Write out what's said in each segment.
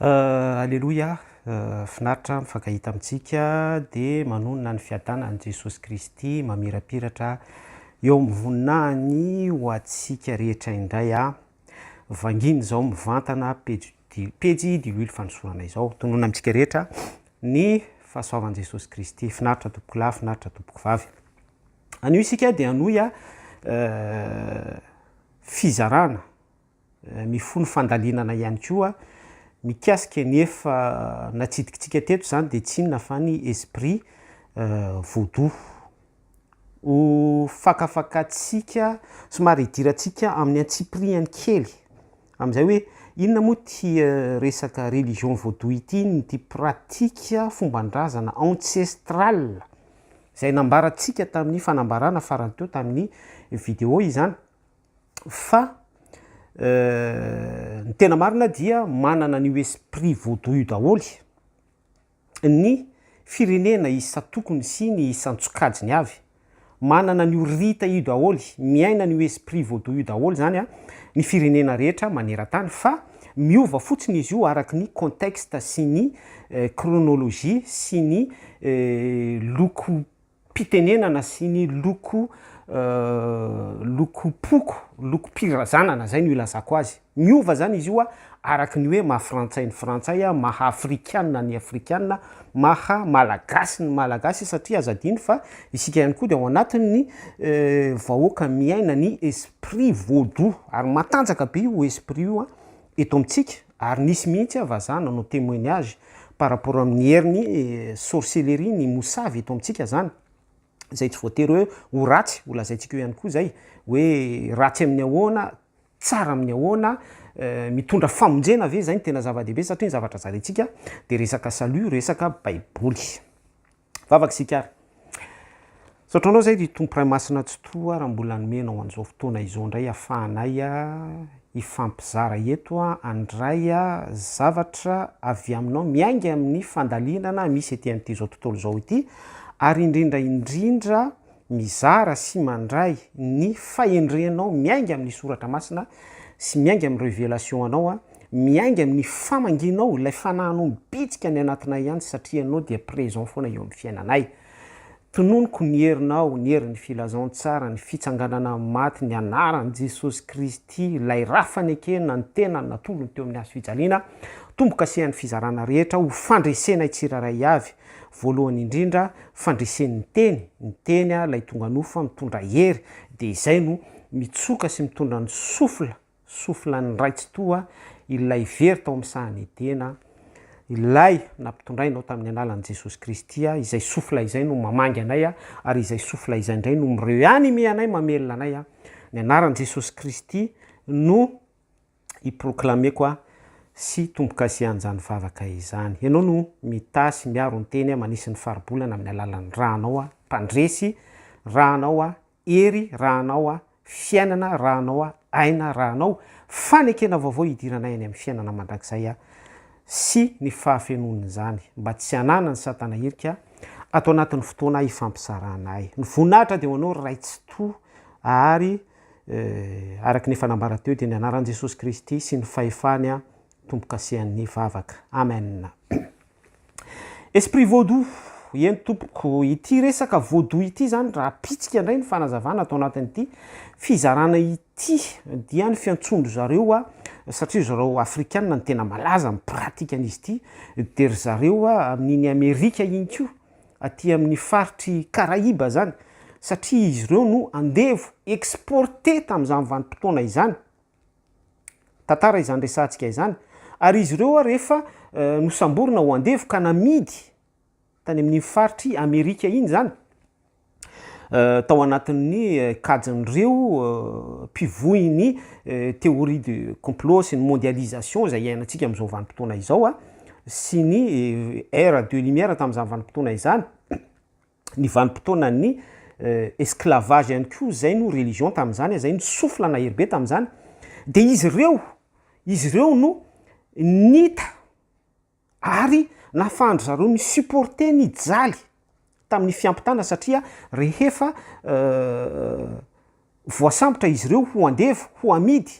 Aleloia, finaritra mifankahita amintsika dia manonona ny fiadanan'i Jesosy Kristy mamirapiratra eo amin'ny voninahiny ho antsika rehetra indray a! vangina izao mivantana pejy di- pejy diloilo fanosorana izao, tononina amintsika rehetra ny fahasoavan'i Jesosy Kristy, finaritra tompokolahy, finaritra tompokovavy. Anio isika dia hanohy a fizarana mifono fandalinana ihany koa mikasika ny efa natsidikitsika teto izany dia tsy inona fa ny esprit vaudou. Ho fakafakantsika somary hidirantsika amin'ny antsipirihany kely amin'izay hoe inona moa ity resaka religion vaudou ity, ity pratique fomban-drazana ancestrale. izay nambarantsika tamin'ny fanambarana farany teo tamin'ny vidéo izany fa ny tena marina dia manana an'io esprit vaudou io daholo ny firenena isan-tokony sy ny isan-tsokajiny avy manana an'io rita io daholo miaina an'io esprit vaudou io daholo izany ny firenena rehetra maneran-tany fa Miova fotsiny izy io araky ny contexte sy ny chronologie sy ny lokom-pitenenana sy ny loko lokom-poko, lokom-pirazanana, izay no ilazako azy. Miova izany izy io araky ny hoe maha-frantsay ny frantsay, maha-afrikana ny afrikana, maha-malagasy ny malagasy satria aza adino fa isika ihany koa dia ao anatin'ny vahoaka miaina ny Prix vaudou ary matanjaka be io esprit io eto amintsika ary nisy mihitsy ah vazaha nanao temoignage par rapport amin'ny herin'ny sorcellerie ny mosavy eto amintsika zany izay tsy voatery hoe ho ratsy, ho lazaintsika eo ihany koa izay hoe ratsy amin'ny ahoana, tsara amin'ny ahoana, mitondra famonjena ve izay no tena zava-dehibe satria ny zavatra zaraintsika dia resaka salut, resaka baiboly. Vavaka isika ary. Misaotra anao izay ry Tompo Ray Masina Tsitoha raha mbola hanome anao an'izao fotoana izao indray ahafahanay hifampizara eto handray zavatra avy aminao miainga amin'ny fandalinana misy ety amin'ity izao tontolo izao ity ary indrindra indrindra mizara sy mandray ny fahendrenao miainga amin'ny soratra masina sy miainga amin'ny revelation anao, miainga amin'ny famangianao ilay fanahinao mibitsika any anatinay ihany satria ianao dia présent foana eo amin'ny fiainanay. Tononiko ny herinao, ny herin'ny filazantsara, ny fitsanganana amin'ny maty, ny anaran'i Jesosy Kristy, ilay ra fanekena, ny tenany natolony teo amin'ny hazo fijaliana, tombo-kasehan'ny fizarana rehetra ho fandresenay tsirairay avy, Voalohany indrindra fandresen'ny teny, ny teny ilay tonga nofo fa mitondra hery dia izay no mitsoka sy mitondra ny sofla, soflan'ny Ray Tsitoha ilay very tao amin'ny sahan'i Edena, ilay nampitondray anao tamin'ny alalan'i Jesosy Kristy, izay sofla izay no mamangy anay ary izay sofla izay indray no mi-reanime anay, mamelona anay, ny anaran'i Jesosy Kristy no. hi-proclamer-ko aho sy tombo-kasihan'izany vavaka izany. Ianao no mitaha sy miaro ny teny aho manisy ny faribolana amin'ny alalan'ny Ra anao aho mpandresy, Ra anao aho hery, Ra anao aho fiainana, Ra anao aho aina, Ra anao fanekena vaovao hidiranay any amin'ny fiainana mandrakizay aho sy ny fahafenoan'izany mba tsy hananan'i satana hirika ato anatin'ny fotoana hifampisarahana ahy. Ny voninahitra dia ho anao ry Ray Tsitoha ary Eh, araka ny efa nambara teo dia ny anaran'i Jesosy Kristy sy ny fahefany an, tombo-kasihan'ny vavaka. Amen. Esprit Vaudou, eny tompoko, ity resaka Vaudou ity izany raha pitsika indray ny fanazavana ato anatin'ity fizarana ity dia ny fiantsoan-dry zareo a, satria ry zareo Afrikana no tena malaza amin'ny pratique an'izy ity, dia ry zareo amin'iny Amerika iny koa, aty amin'ny faritry Karaiba izany satria izy ireo no andevo exporter tamin'izany vanim-potoana izany, tantara izany resahantsika izany, ary izy ireo ary efa nosamborina ho andevo ka namidy tany amin'iny faritry Amerika iny izany tao anatin'ny kajin'ireo mpivoy ny théorie de complot sy ny mondialisation izay iainantsika amin'izao vanim-potoana izao sy ny ère de lumière tamin'izany vanim-potoana izany, ny vanim-potoanan'ny esclavage ihany koa izay no religion tamin'izany, izay no souffle nahery be tamin'izany, dia izy ireo, izy ireo no nita Ary nahafahan-dry zareo ni-supporter ny jaly tamin'ny fiampitana satria rehefa voasambotra izy ireo ho andevo, ho amidy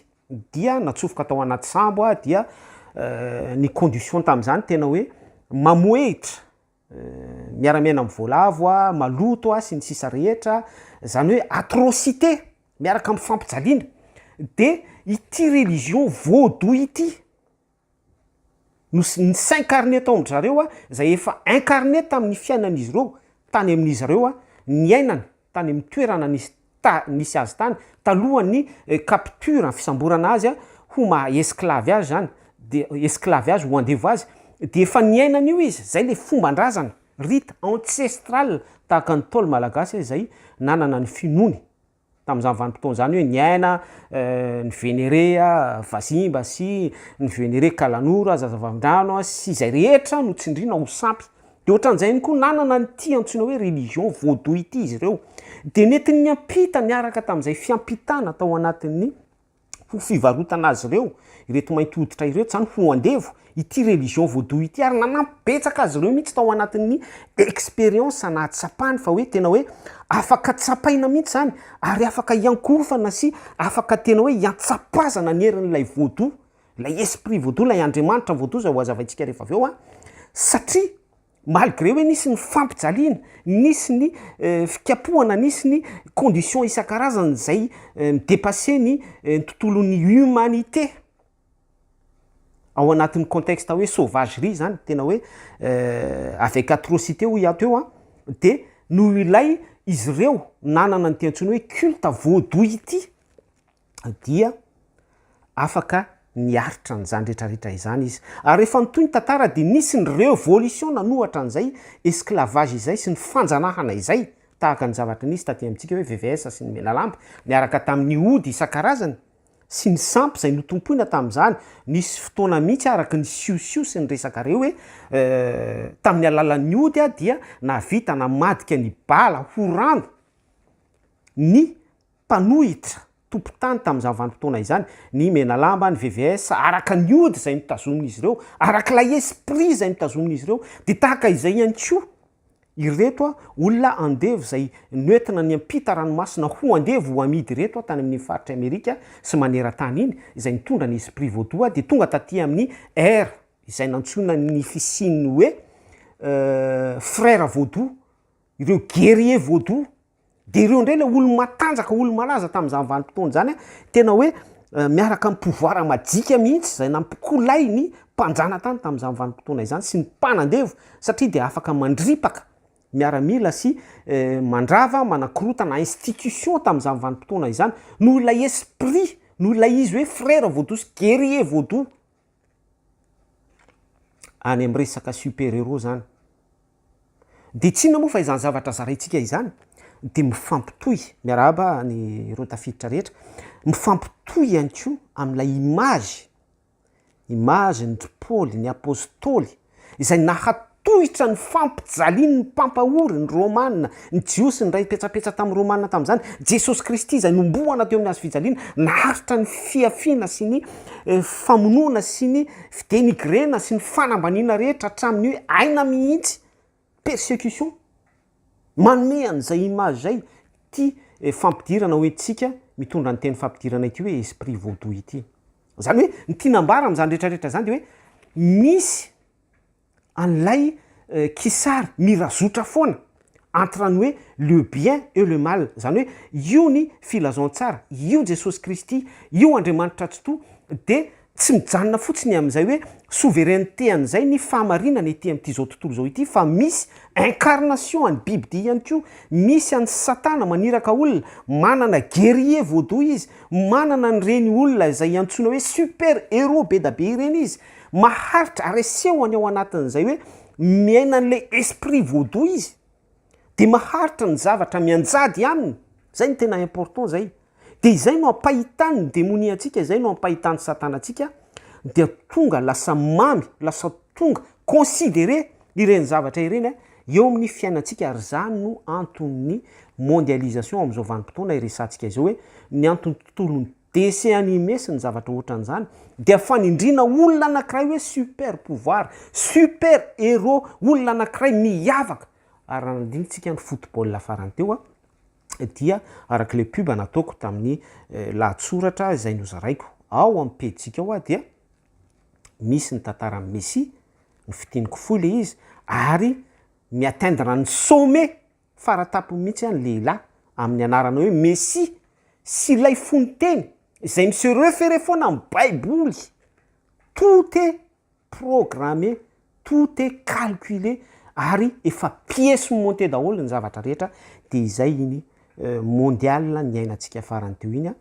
dia natsofoka tao anaty sambo aho dia ny condition tamin'izany tena hoe mamohehitra, miara-miaina amin'ny voalavo aho, maloto aho sy ny sisa rehetra, izany hoe atrocité miaraka amin'ny fampijaliana, dia ity religion vaudou ity. no s'incarner tao amin-dry zareo, izay efa incarner tamin'ny fiainan'izy ireo tany amin'izy ireo niainana, tany amin'ny toerana nisy ta- nisy azy tany, talohan'ny capture, fisamborana azy ho maha esclave azy izany, dia esclave azy ho andevo azy, dia efa niaina an'io izy, izay ilay fomban-drazana, rite ancestral, tahaka ny Ntaolo malagasy izay nanana ny finoany tamin'izany vanim-potoana izany hoe niaina ny Venere vazimba sy ny Venere kalanora, zazavavindrano sy izay rehetra no tsindriana ho sampy. De ohatran'izay ihany koa nanana an'ity antsoina hoe religion vaudou ity izy ireo. De nety niampita niaraka tamin'izay fiampitana tao anatin'ny. ho fivarotana azy ireo ireto mainty hoditra ireto zany ho andevo ity religion vaudou ity ary nanampy betsaka azy ireo mihitsy tao anatin'ny expérience nahatsapany fa hoe tena hoe afaka tsapaina mihitsy zany ary afaka hiankorofana sy afaka tena hoe hiantsapazana ny herin'ilay vaudou ilay esprit vaudou ilay andriamanitra vaudou izay ho azavaintsika rehefa avy eo a satria Malgré hoe nisy ny fampijaliana, nisy ny fikapohana, nisy ny conditions isan-karazany izay mi-depasser ny tontolon'ny humanité, ao anatin'ny contexte hoe sauvagerie izany, tena hoe avec atrocité hoy ato eo an, dia noho ilay izy ireo nanana an'ity antsoina hoe culte vaudou ity, dia afaka niaritra an'izany retraretra izany izy. Ary rehefa mitohy ny tantara dia nisy ny révolution nanohatra an'izay esclavage izay sy ny fanjanahana izay, tahaka ny zavatra nisy taty amintsika hoe VVS sy ny Menalamba, niaraka tamin'ny ody isan-karazany sy ny sampy izay notompoina tamin'izany, nisy fotoana mihitsy aho araka ny siosio sy ny resaka reo hoe tamin'ny alalan'ny ody aho dia nahavita namadika ny bala ho rano ny mpanohitra tompon-tany tamin'izany vanim-potoana izany, ny Menalamba, ny VVS, araka ny ody izay notazomin'izy ireo, araka ilay esprit izay notazomin'izy ireo, dia tahaka izay ihany koa ireto olona andevo izay noentina niampita ranomasina ho andevo ho amidy ireto tany amin'iny faritry Amerika sy maneran-tany iny, izay nitondra ny esprit vodoha dia tonga taty amin'ny air izay nantsoina ny fisian'ny hoe frères vodoha, ireo guerriers vodoha. Dia ireo indray ilay olo-matanjaka, olo-malaza tamin'izany vanim-potoana izany an, tena hoe miaraka amin'ny pouvoir majika mihitsy izay nampikolay ny mpanjanatany tamin'izany vanim-potoana izany sy ny mpanandevo satria dia afaka mandripaka miaramila sy mandrava, manakorotana institution tamin'izany vanim-potoana izany noho ilay esprit, noho ilay izy hoe frère vaudou sy guerrier vaudou any amin'ny resaka super héros izany. Dia tsinona moa fa izany zavatra zaraintsika izany dia mifampitohy, miarahaba an'ireo tafiditra rehetra, mifampitohy ihany koa amin'ilay image, image-n'i Paoly, ny apostoly, izay nahatohitra ny fampijalian'ny mpampahory, ny Romana, ny Jiosy niray petsapetsa tamin'ny Romana tamin'izany, Jesosy Kristy izay nomohana teo amin'ny hazo fijaliana, naharitra ny fihafiana sy ny famonoana sy ny fidenigrena sy ny fanambaniana rehetra hatramin'ny hoe aina mihitsy. persecution manome an'izay image izay ity fampidirana hoe tsika mitondra ny teny fampidirana ity hoe esprit vaudou ity. Izany hoe ny tiana ambara amin'izany rehetra rehetra izany dia hoe misy an'ilay kisary mirazotra foana entre ny hoe le bien et le mal, izany hoe io ny filazantsara, io Jesosy Kristy, io Andriamanitra Tsitoha dia Tsy mijanona fotsiny amin'izay hoe souveraineté an'izay ny fahamarinana ety amin'ity izao tontolo izao ity fa misy incarnation an'ny bibidia ihany koa, misy an'i satana maniraka olona, manana guerrier vaudou izy, manana an'ireny olona izay iantsoana hoe super héros be da be ireny izy, maharitra ary asehony ao anatin'izay hoe miaina an'ilay esprit vaudou izy. dia maharitra ny zavatra mianjady aminy, zay no tena important zay, dia izay no ampahitany ny demonia antsika, izay no ampahitany satana antsika, dia tonga lasa mamy, lasa tonga considerer ireny zavatra ireny a, eo amin'ny fiainantsika, ary zany no anton'ny mondialisation amin'izao vanim-potoana iresahantsika izao hoe, ny anton'ny tontolon'ny. Dessin animé sy ny zavatra ohatran'izany dia fanindriana olona anankiray hoe super pouvoir, super héros, olona anankiray miavaka. Ary raha nandinitsiaka ny football farany teo aho dia araka ilay pub nataoko tamin'ny lahatsoratra izay nozaraiko ao amin'ny pejitsika ao aho dia misy ny tantaran'i Messi, ny fidiniko fohy ilay izy ary mi-atteindre ny sommet. Fara tampony mihitsy an lehilahy amin'ny anarana hoe Mesia sy ilay fony teny izay mi se referer foana amin'ny baiboly. Tout est programme, tout est calcule ary efa pièce montée daholo ny zavatra rehetra dia izay iny mondial niainantsika farany teo iny an.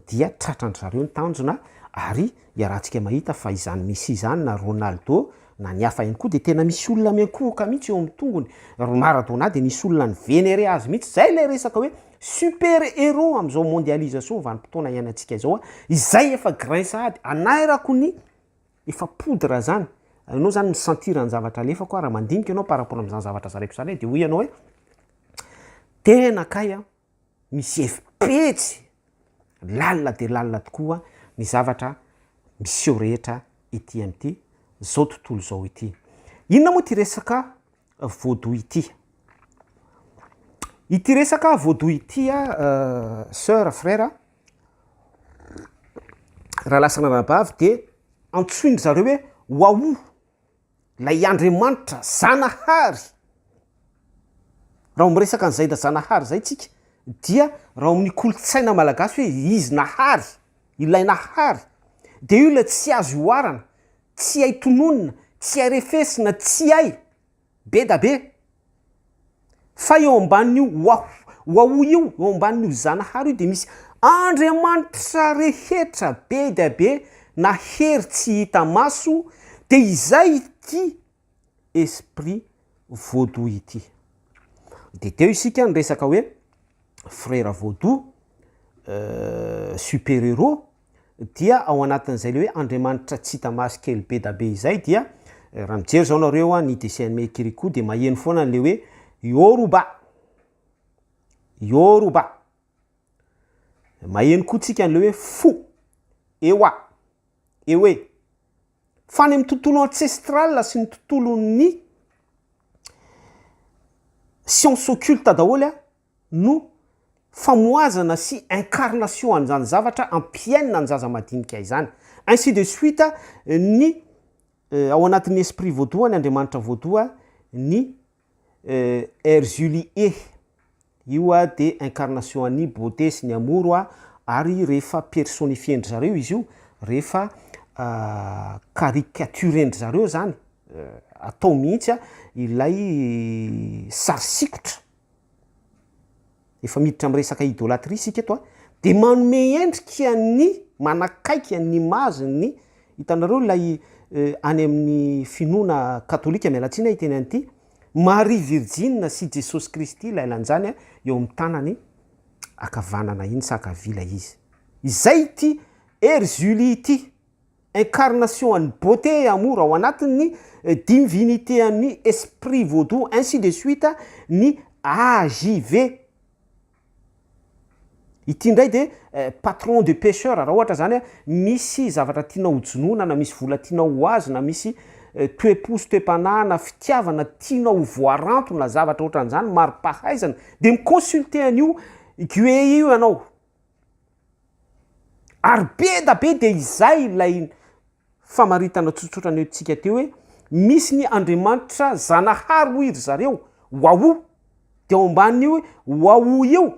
dia tratran-dry zareo ny tanjona ary iarahantsika mahita fa izany Messi izany na Ronaldo na ny hafa ihany koa dia tena misy olona miankohoka mihitsy eo amin'ny tongony. Ry Maradona dia nisy olona ni-venerer azy mihitsy. Izay ilay resaka hoe super héros amin'izao mondialisation vanim-potoana iainantsika izao. Izay efa grain sahady anairako ny efa poudre izany. Ianao izany mi-sentir ny zavatra alefako aho raha mandinika ianao par rapport amin'izany zavatra zaraiko izany dia hoy ianao hoe tena kay an! misy hevi-petsy lalina dia lalina tokoa ny zavatra miseho rehetra ety amin'ity izao tontolo izao ity. Inona moa ity resaka voadoha ity? Ity resaka voadoha ity, soeur, frère, raha lasa anarabavy dia antsoin-dry zareo hoe waouh. Ilay Andriamanitra Zanahary. Raha vao miresaka an'i Zaida Zanahary izay tsika dia raha ao amin'ny kolontsaina malagasy hoe izy nahary, ilay nahary dia io ilay tsy azo ihoarana, tsy hay tononina, tsy hay refesina, tsy hay be da be Fa eo ambanin'io Waho, Waho io, eo ambanin'io Zanahary io dia misy Andriamanitra rehetra be dia be na hery tsy hita maso dia izay ity Esprit Vaudou ity. Dia teo isika niresaka hoe Frera Vaudou, Super Héros, dia ao anatin'izay le hoe Andriamanitra tsy hita maso kely be da be izay dia raha mijery zao nareo a ny dessin animé Kirikou de maheno foana an'le hoe Yoruba! Yoruba! Maheno koa tsika an'le hoe fo! Ewa! Ewe! Fa any amin'ny tontolo ancestral sy ny tontolon'ny science occulte daholo a, no famohazana sy incarnation an'izany zavatra ampiainina ny zaza madinika izany. Ainsi de suite ny ao anatin'ny esprit voadoha, ny Andriamanitra voadoha, ny Erzuli E. Io dia incarnation an'i Beauté sy ny Amour ary rehefa personifier-ndry zareo izy io, rehefa caricaturer-ndry zareo izany, atao mihitsy ilay sary sikotra efa miditra amin'ny resaka idolatria isika eto a, dia manome endrika ny manakaiky an'i image ny, hitanareo ilay any amin'ny finoana katolika, miala tsiny aho hiteny an'ity, Maria virjina sy Jesosy Kristy ilay lanjany eo amin'ny tanany ankavanana iny sa ankavia ilay izy. Izay ity Herzuly ity. incarnation an'ny beauté et amour ao anatin'ny divinité an'ny esprit vaudou ainsi de suite ny AJV ity indray dia patron de pecheur raha ohatra zany misy zavatra tianao ho jonoina na misy vola tianao ho azo na misy toe-po sy toe-panahy na fitiavana tianao ho voaranto na zavatra ohatran'izany mari-pahaizana dia mi-consulter an'io Gué io ianao Ary be da be dia izay ilay famaritana tsotsotra nentintsika teo hoe misy ny Andriamanitra Zanahary hoy ry zareo, Wawoo! Dia ao ambanin'io Wawoo io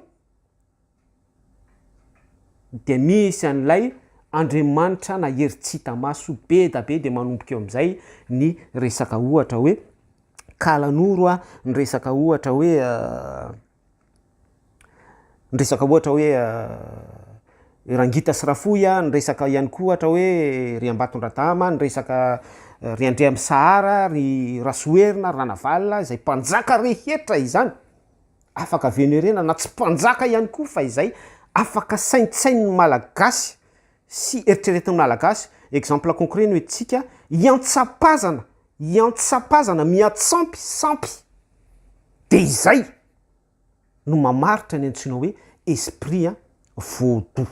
dia misy an'ilay Andriamanitra na hery tsy hita maso be da be dia manomboka eo amin'izay ny resaka ohatra hoe kalanoro a, ny resaka ohatra hoe. Niresaka ohatra hoe Rangita sy Rafohy an, niresaka ihany koa ohatra hoe ry Ambatondradama, niresaka ry Andriamisahara, ry Rasoherina, ry Ranavalona, izay mpanjaka rehetra izany, afaka venerena na tsy mpanjaka ihany koa fa izay afaka saintsain'ny Malagasy sy eritreretin'ny Malagasy, exemple concret no entintsika, iantsapazana, iantsapazana, miantsampy, sampy, dia izay no mamaritra ny antsoina hoe esprit vaudou.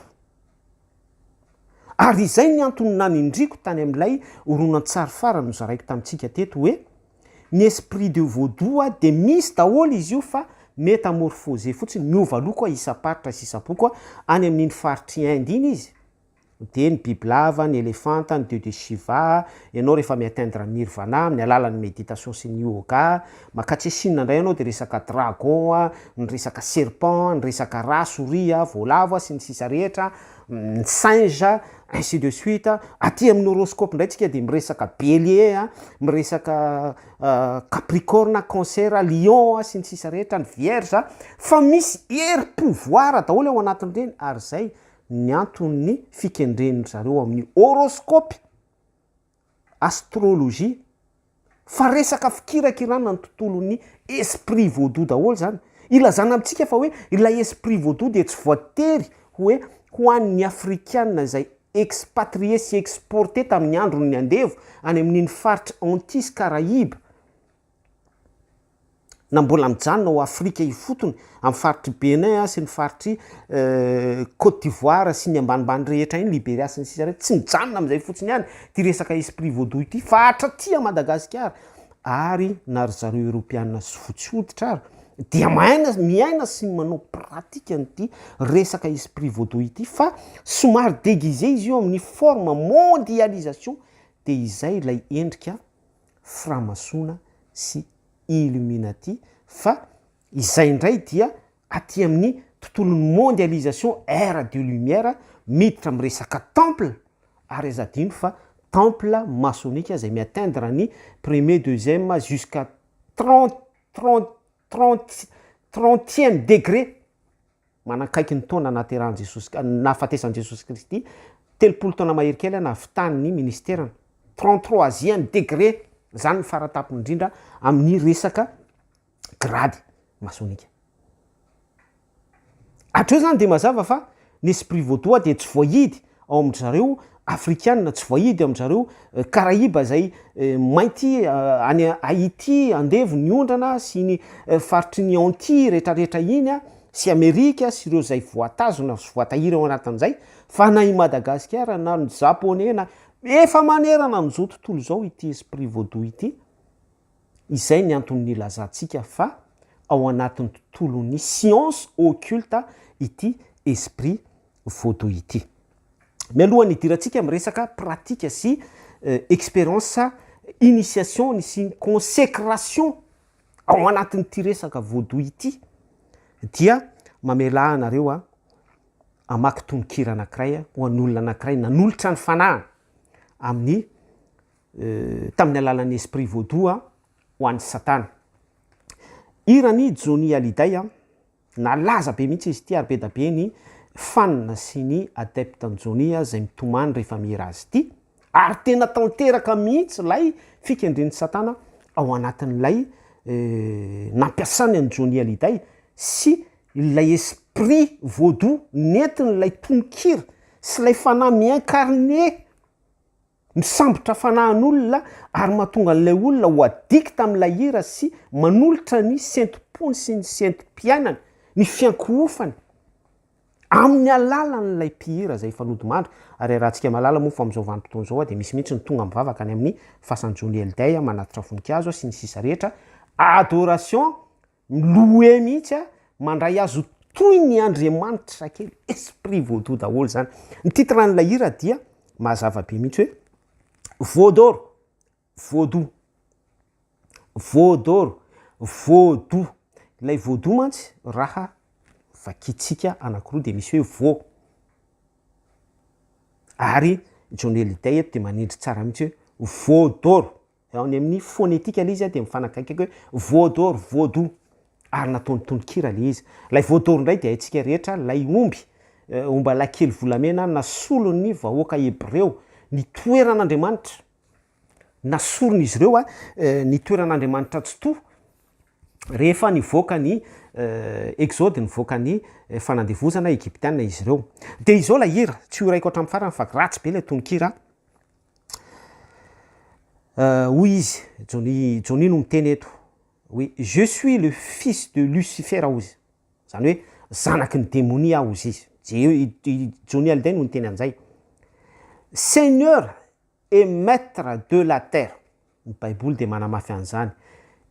Ary izay ny antony nanindriako tany amin'ilay horonantsary farany nozaraiko tamintsika teto hoe, Ny esprit de vaudou a dia misy daholo izy io fa metamorphose fotsiny, miova loko isam-paritra sy isam-poko, any amin'iny faritr'i Inde iny izy dia ny bibilava, ny elefanta, ny dieu de Shiva, ianao rehefa mi-atteindre ny nirvana amin'ny alalan'ny méditation sy ny yoga, makatria Chine indray ianao dia resaka dragon a, ny resaka serpent, ny resaka rà, souris a, voalavo a, sy ny sisa rehetra, ny singe ainsi de suite, aty amin'ny horoscope ndray tsika de miresaka bélier a, miresaka capricorne, cancer, lion a, sy ny sisa rehetra, ny vierge a, fa misy hery pouvoir daholo ao anatin'ireny ary zay ny anton'ny fikendren-dry zareo amin'ny horoscope astrologie fa resaka fikirakirana ny tontolon'ny esprit vaudou daholo zany, ilazana amintsika fa hoe ilay esprit vaudou dia tsy voatery hoe ho an'ny afrikana izay expatrier sy exporter tamin'ny andron'ny andevo any amin'iny faritra Antilles Caraïbes, na mbola mijanona ao Afrika ifotony, amin'ny faritr'i Bénin sy ny faritr'i Côte d'Ivoire sy ny ambanimbany rehetra iny, Liberia sy ny sisa rehetra, tsy mijanona amin'izay fotsiny ihany ity resaka esprit vaudou ity fa hatraty à Madagasikara ary na ry zareo Eropeana sy fotsy hoditra ary dia mahaina, miaina sy manao pratique an'ity resaka esprit vaudou ity fa somary déguisé izy io amin'ny forme mondialisation dia izay ilay endrika framasoana sy illuminati fa izay indray dia aty amin'ny tontolon'ny mondialisation ère de lumière miditra amin'ny resaka temple ary aza adino fa temple masonika izay mi atteindre ny premier deuxième jusqu'à trente trente Trente trentième degré, manankaiky ny taona nahaterahan'i Jesosy K- nahafatesan'i Jesosy Kristy, telopolo taona mahery kely aho nahavitan'ny ministerany, trente troisième degré, zany ny faratapony indrindra amin'ny resaka grady masonika. Hatreo zany dia mazava fa ny esprit vaudois dia tsy voahidy ao amin-dry zareo afrikana, tsy voahidy ao amin-dry zareo karaiba izay mainty any Haiti andevo ny ondrana sy iny faritry ny Antilles retraretra iny an, sy Amerika sy ireo izay voatazona sy voatahiry ao anatin'izay fa na i Madagasikara na ny Japoney na, efa manerana an'izao tontolo izao ity esprit vaudou ity. Izay ny antony nilazantsika fa ao anatin'ny tontolon'ny science occulte ity esprit vaudou ity. Mialohan'ny hidirantsika amin'ny resaka pratique sy experience initiation sy ny consecration ao anatin'ity resaka vaudou ity dia mamelà anareo hamaky tononkira anankiray ho an'olona anankiray nanolotra ny fanahiny amin'ny tamin'ny alalan'ny esprit vaudou a ho an'i satana. Hiran'i Johnny Hallyday a, nalaza be mihitsy izy ity ary be da be ny fan sy ny adepte an'i Johnny a izay mitomany rehefa mihira azy ity ary tena tanteraka mihitsy ilay fikendren'i satana ao anatin'ilay nampiasany an'i Johnny Hallyday sy ilay esprit vaudou nentin'ilay tononkira sy ilay fanahy mi-incarner Misambotra fanahin'olona ary mahatonga an'ilay olona ho addict amin'ilay hira sy manolotra ny sentim-pony sy ny sentim-piainany, ny fiankohofany, amin'ny alalan'ilay mpihira izay efa nodimandry. Ary iarahantsika mahalala moa fa amin'izao vanim-potoana izao dia misy mihitsy ny tonga mivavaka any amin'ny fasan'i Johnny Hallyday manatitra voninkazo sy ny sisa rehetra, adoration Miloue mihitsy a, mandray azy ho toy ny Andriamanitra kely, esprit vaudou daholo zany. Ny titre an'ilay hira dia mazava be mihitsy hoe, Vaudor, vaudou, vaudor, vaudou, ilay vaudou mantsy raha vakintsika anakiroa dia misy hoe vau, ary Johnny Hallyday eto dia manindry tsara mihitsy hoe, Vaudor. Raha ny amin'ny fonetika le izy dia mifanakaiky hoe voador, voado, ary nataony tononkira le izy. Ilay voador indray dia haintsika rehetra ilay omby, omba lahy kely volamena nasolon'ny vahoaka hebreo, ny toeran'Andriamanitra, nasoron'izy ireo ny toeran'Andriamanitra tsitoha rehefa nivoaka ny Exode, nivoaka ny fanandevozana Egyptiana izy ireo. Dia izao ilay hira, tsy horaiko hatramin'ny farany fa ratsy be ilay tononkira. Euh, hoy izy, Johnny, Johnny no miteny eto, hoe je suis le fils de Lucifer hoy izy, izany hoe zanaky ny demonia aho hoy izy, i Johnny Hallyday no niteny an'izay, Seigneur et Maitre de la terre, Ny Baiboly dia manamafy an'izany.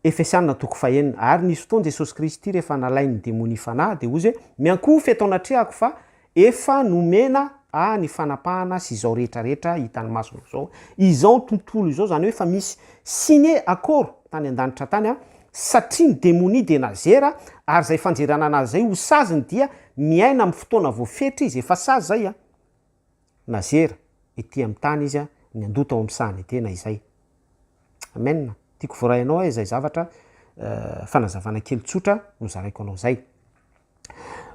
Efesiana toko fahenina, Ary nisy fotoana Jesosy Kristy rehefa nalain'ny demonia fanahy, dia hozy hoe, Miankohofa eto anatrehako fa efa nomena Ahy ny fanapahana sy izao rehetra rehetra hitan'ny masonao izao, izao tontolo izao, izany hoe efa misy signe, akoro, tany an-danitra tany an, satria ny demonia dia nazera, ary izay fanjerana anazy izay ho saziny dia miaina amin'ny fotoana voafetra izy, efa sazy izay an. Nazera ety amin'ny tany izy ny handoa tao amin'ny sahan'ny Etena izay. Amen. Tiako voaray anao izay zavatra fanazavana kely tsotra no zaraiko anao izay.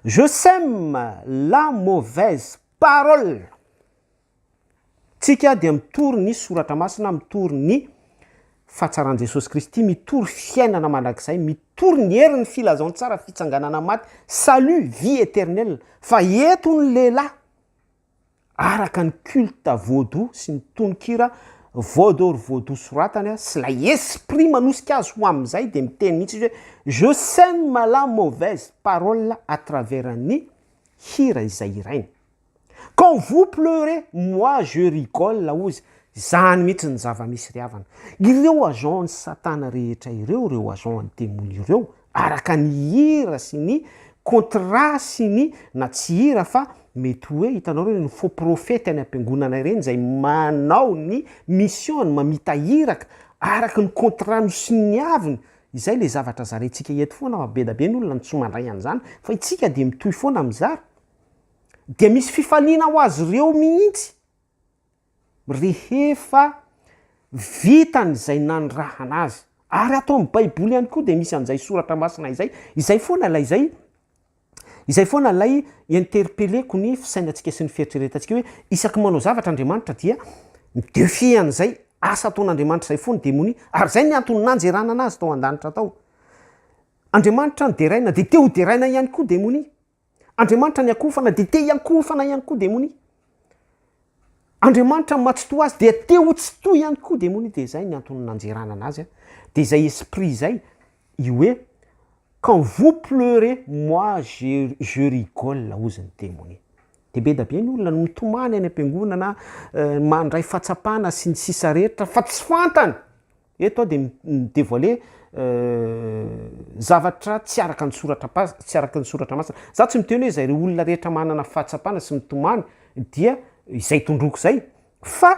Je sème la mauvaise parole. Tsika dia mitory ny soratra masina, mitory ny fahatsaran'i Jesosy Kristy, mitory fiainana mandrakizay, mitory ny herin'ny filazantsara, fitsanganana maty, salut, vie éternelle. Fa eto ny lehilahy araka ny culte vaudou sy ny tononkira vaud or vaudou soratany sy ilay esprit manosika azy ho amin'izay dia miteny mihitsy izy hoe je sème la mauvaise parole à travers ny hira izay hirainy quand vous pleurez moi je rigole hozy izany mihitsy ny zava-misy ry havana ireo agent ny satana rehetra ireo ireo agent ny demony ireo araka ny hira sy ny contrat sy ny na tsy hira fa mety hoe hitanao ireny faux prophète any ampiangonana ireny izay manao ny mission ny mamita iraka araka ny contrat nosoniaviny izay le zavatra zarentsika eto foana fa be da be ny olona no tsy mandray an'izany fa itsika dia mitohy foana mizara dia misy fifaliana ho azy ireo mihitsy rehefa vitany izay nanirahana azy. Ary ato amin'ny baiboly ihany koa dia misy an'izay soratra masina izay, izay foana ilay izay, izay foana ilay interpelleko ny fisainantsika sy ny fieritreretantsika hoe isaky ny manao zavatra Andriamanitra dia mi-defier an'izay asa ataon'Andriamanitra izay fo ny demonia. Ary izay ny antony nanjeranana azy tao an-danitra tao. Andriamanitra no deraina, dia te ho deraina ihany koa demonia. Andriamanitra ny akofana dia te hiankofana ihany koa demonia. Andriamanitra ny matsitoha azy dia te ho tsitoha ihany koa demonia. Dia izay ny antony nanjeranana azy. Dia izay esprit izay, i hoe, quand vous pleurez, moi je, je rigole, hozy ny demonia. Dia be dia be ny olona no mitomany any am-piangonana, mandray fahatsapana sy ny sisa rehetra, fa tsy fantany. Eto aho dia mi-devoile zavatra tsy araka ny soratra pas, tsy araka ny soratra masina. Za tsy miteny hoe izay re olona rehetra manana fahatsapana sy mitomany dia izay tondroko izay, fa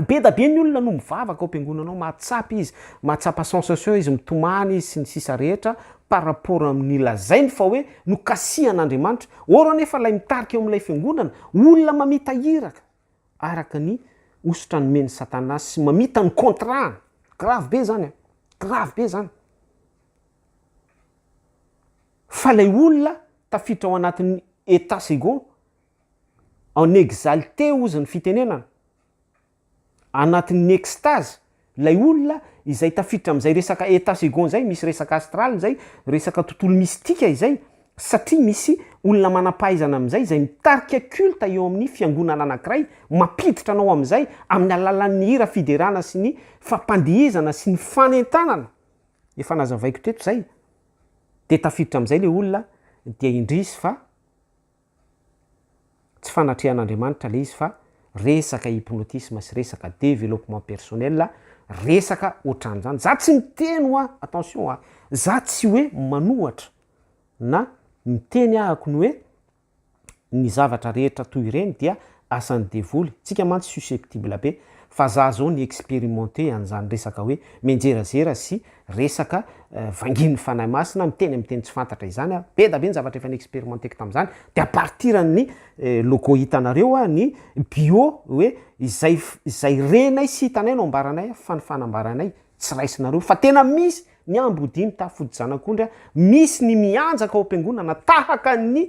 be da be ny olona no mivavaka ao am-piangonana ao, mahatsapa izy, mahatsapa sensation izy, mitomany izy sy ny sisa rehetra par rapport amin'ny lazainy fa hoe nokasihan'Andriamanitra. Or anefa ilay mitarika eo amin'ilay fiangonana, olona mamita iraka, araka ny hosotra nomen'i satana sy mamita ny contrat grave be zany an, grave be zany fa lay olona tafiditra ao anatin'ny etat second en exalte ozy ny fitenenana anatin'ny extase Ilay olona izay tafiditra amin'izay resaka état second izay, misy resaka astral izay, resaka tontolo mistika izay, satria misy olona manam-pahaizana amin'izay izay mitarika culte eo amin'ny fiangonana anankiray, mampiditra anao amin'izay amin'ny alalan'ny hira fiderana sy ny fampandihizana sy ny fanentanana, efa nazavaiko teto izay, dia tafiditra amin'izay ilay olona dia indrisy fa. Tsy fanatrehan'Andriamanitra ilay izy fa resaka hypnotisme sy resaka développement personnel, resaka ohatran'izany. Za tsy miteny hoa, attention hoa, za tsy hoe manohatra na miteny ahako ny hoe ny zavatra rehetra toy ireny dia Asan'ny devoly, tsika mantsy susceptible be, fa za zao ni experimenter an'izany resaka hoe mianjerazera sy resaka vangin'ny Fanahy Masina miteny amin'ny teny tsy fantatra izany aho, be da be ny zavatra efa ni-experimenteko tamin'izany, de à partir an'ny logo hitanareo aho ny bio hoe izay izay renay sy hitanay no ambaranay aho fa ny fanambaranay tsy raisinareo fa tena misy ny ambodimitafo fodijanak'ondry a, misy ny mianjaka ao am-piangonana tahaka ny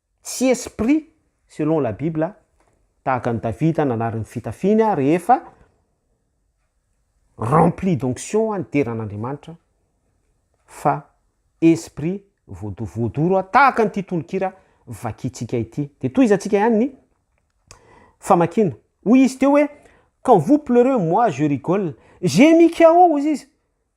Tsy esprit selon la bible tahaka an'i Davida nanary ny fitafiany rehefa rempli d'onction nidera an'Andriamanitra fa esprit voado voadoro tahaka an'ity tononkira vakintsika ity. Dia tohizantsika ihany ny famakiana. Hoy izy teo hoe quand vous pleurez moi je rigole, j'ai mis KO hoy izy.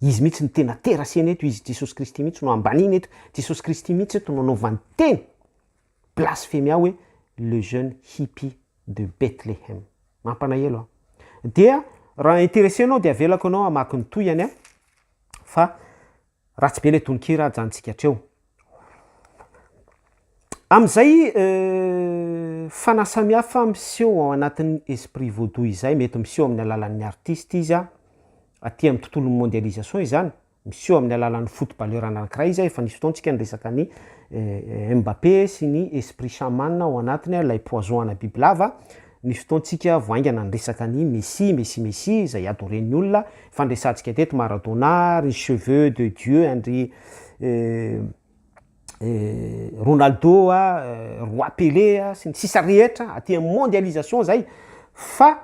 Izy mihitsy no tena terasena eto, Izy Jesosy Kristy mihitsy no ambaniny eto, Jesosy Kristy mihitsy eto no anaovany teny blasfemia hoe le jeune hippie de Bethlehem. Mampanahelo an! Dia raha interessenao dia avelako anao hamaky ny tohiny an! Fa. Ratsy be le tononkira ajantsika hatreo. Amin'izay fanasamihafa miseho ao anatin'ny esprit vaudou izay mety miseho amin'ny alalan'ny artiste izy aty amin'ny tontolon'ny mondialisation izany, miseho amin'ny alalan'ny footballeur anankiray izy efa nisy fotoantsika niresaka ny Mbappé sy ny esprit chaman ao anatiny ilay poison ana bibilava Ny fotoantsika vao haingana ny resaka ny Messie, Messie, Messie izay adoren'ny olona fa ny resantsika teto Maradona, ry cheveux de Dieu an-dry Ronaldo a, Roi Pelé a, sy ny sisa rehetra aty amin'ny mondialisation izay fa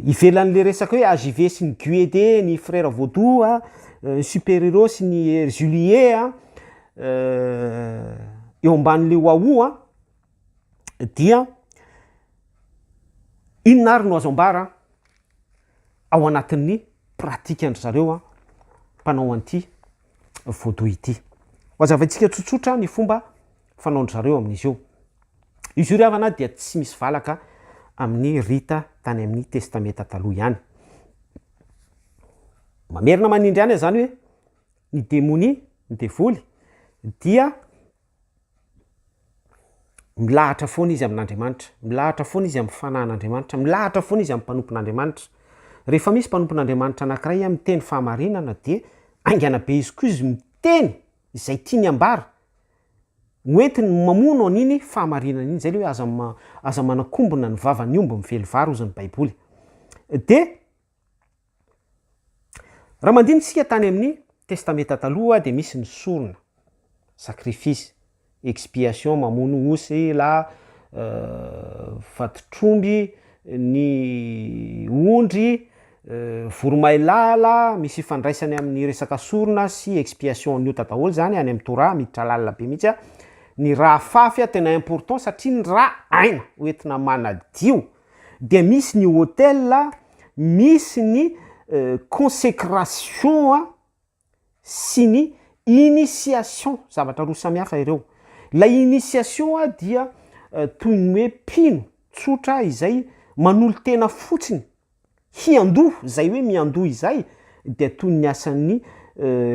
ivelan'ilay resaka hoe AJV sy ny GUED, ny Frères Vaudou a, ny Super Hero sy ny Erzulie a, eo ambanin'ilay waouh an, dia inona ary no azo ambara ao anatin'ny pratikan-dry zareo an, mpanao an'ity voodoo ity. Ho azavaintsika tsotsotra ny fomba fanaon-dry zareo amin'izy io. Izy io ry havana dia tsy misy valaka amin'ny rita tany amin'ny testamenta taloha ihany. Mamerina manindry any aho izany hoe. ny demonia, ny devoly, dia milahatra foana izy amin'Andriamanitra, milahatra foana izy amin'ny fanahin'Andriamanitra, milahatra foana izy amin'ny mpanompon'Andriamanitra. Rehefa misy mpanompon'Andriamanitra anankiray miteny fahamarinana dia haingana be izy koa izy miteny izay tiany ambara, hoentiny mamono an'iny fahamarinana iny, izay ilay hoe aza ma- aza manakombona ny vavan'ny omby mively vary hozy ny Baiboly. Dia. Raha mandini tsika tany amin'ny testameta taloha dia misy ny sorona, sacrifice, expiation mamono osy la vatotr'omby, ny ondry, voromailala, misy ifandraisany amin'ny resaka sorona sy expiation ny ota daholo zany any amin'ny torah miditra lalina be mihitsy, ny ra afafy tena important satria ny ra aina hoentina manadio Dia misy ny hotel, misy ny consécration sy ny initiation, zavatra roa samihafa ireo. Ilay initiation dia toy ny hoe mpino tsotra izay manolo-tena fotsiny hiandoha, izay hoe miandoha izay dia toy ny asan'ny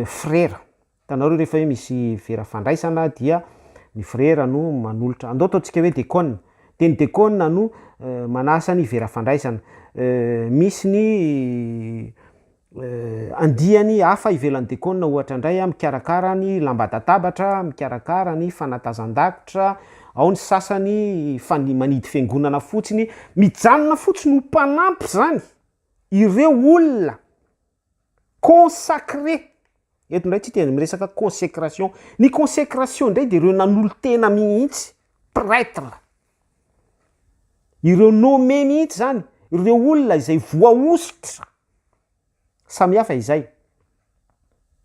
frera. Hitanareo rehefa hoe misy vera fandraisana dia ny frera no manolotra, andao ataontsika hoe dekona, dia ny dekona no manasa ny vera fandraisana, misy ny andiany hafa ivelan'ny dekona ohatra indray an, mikarakara ny lamban-databatra, mikarakara ny fanatazan-dakitra, ao ny sasany fa ny manidy fiangonana fotsiny, mijanona fotsiny ho mpanampy izany ireo olona Consacrer, eto indray tsika dia miresaka consécration, ny consécration indray dia ireo nanolo-tena mihitsy, prêtre, ireo nommé mihitsy izany, ireo olona izay voahosotra, samy hafa izay.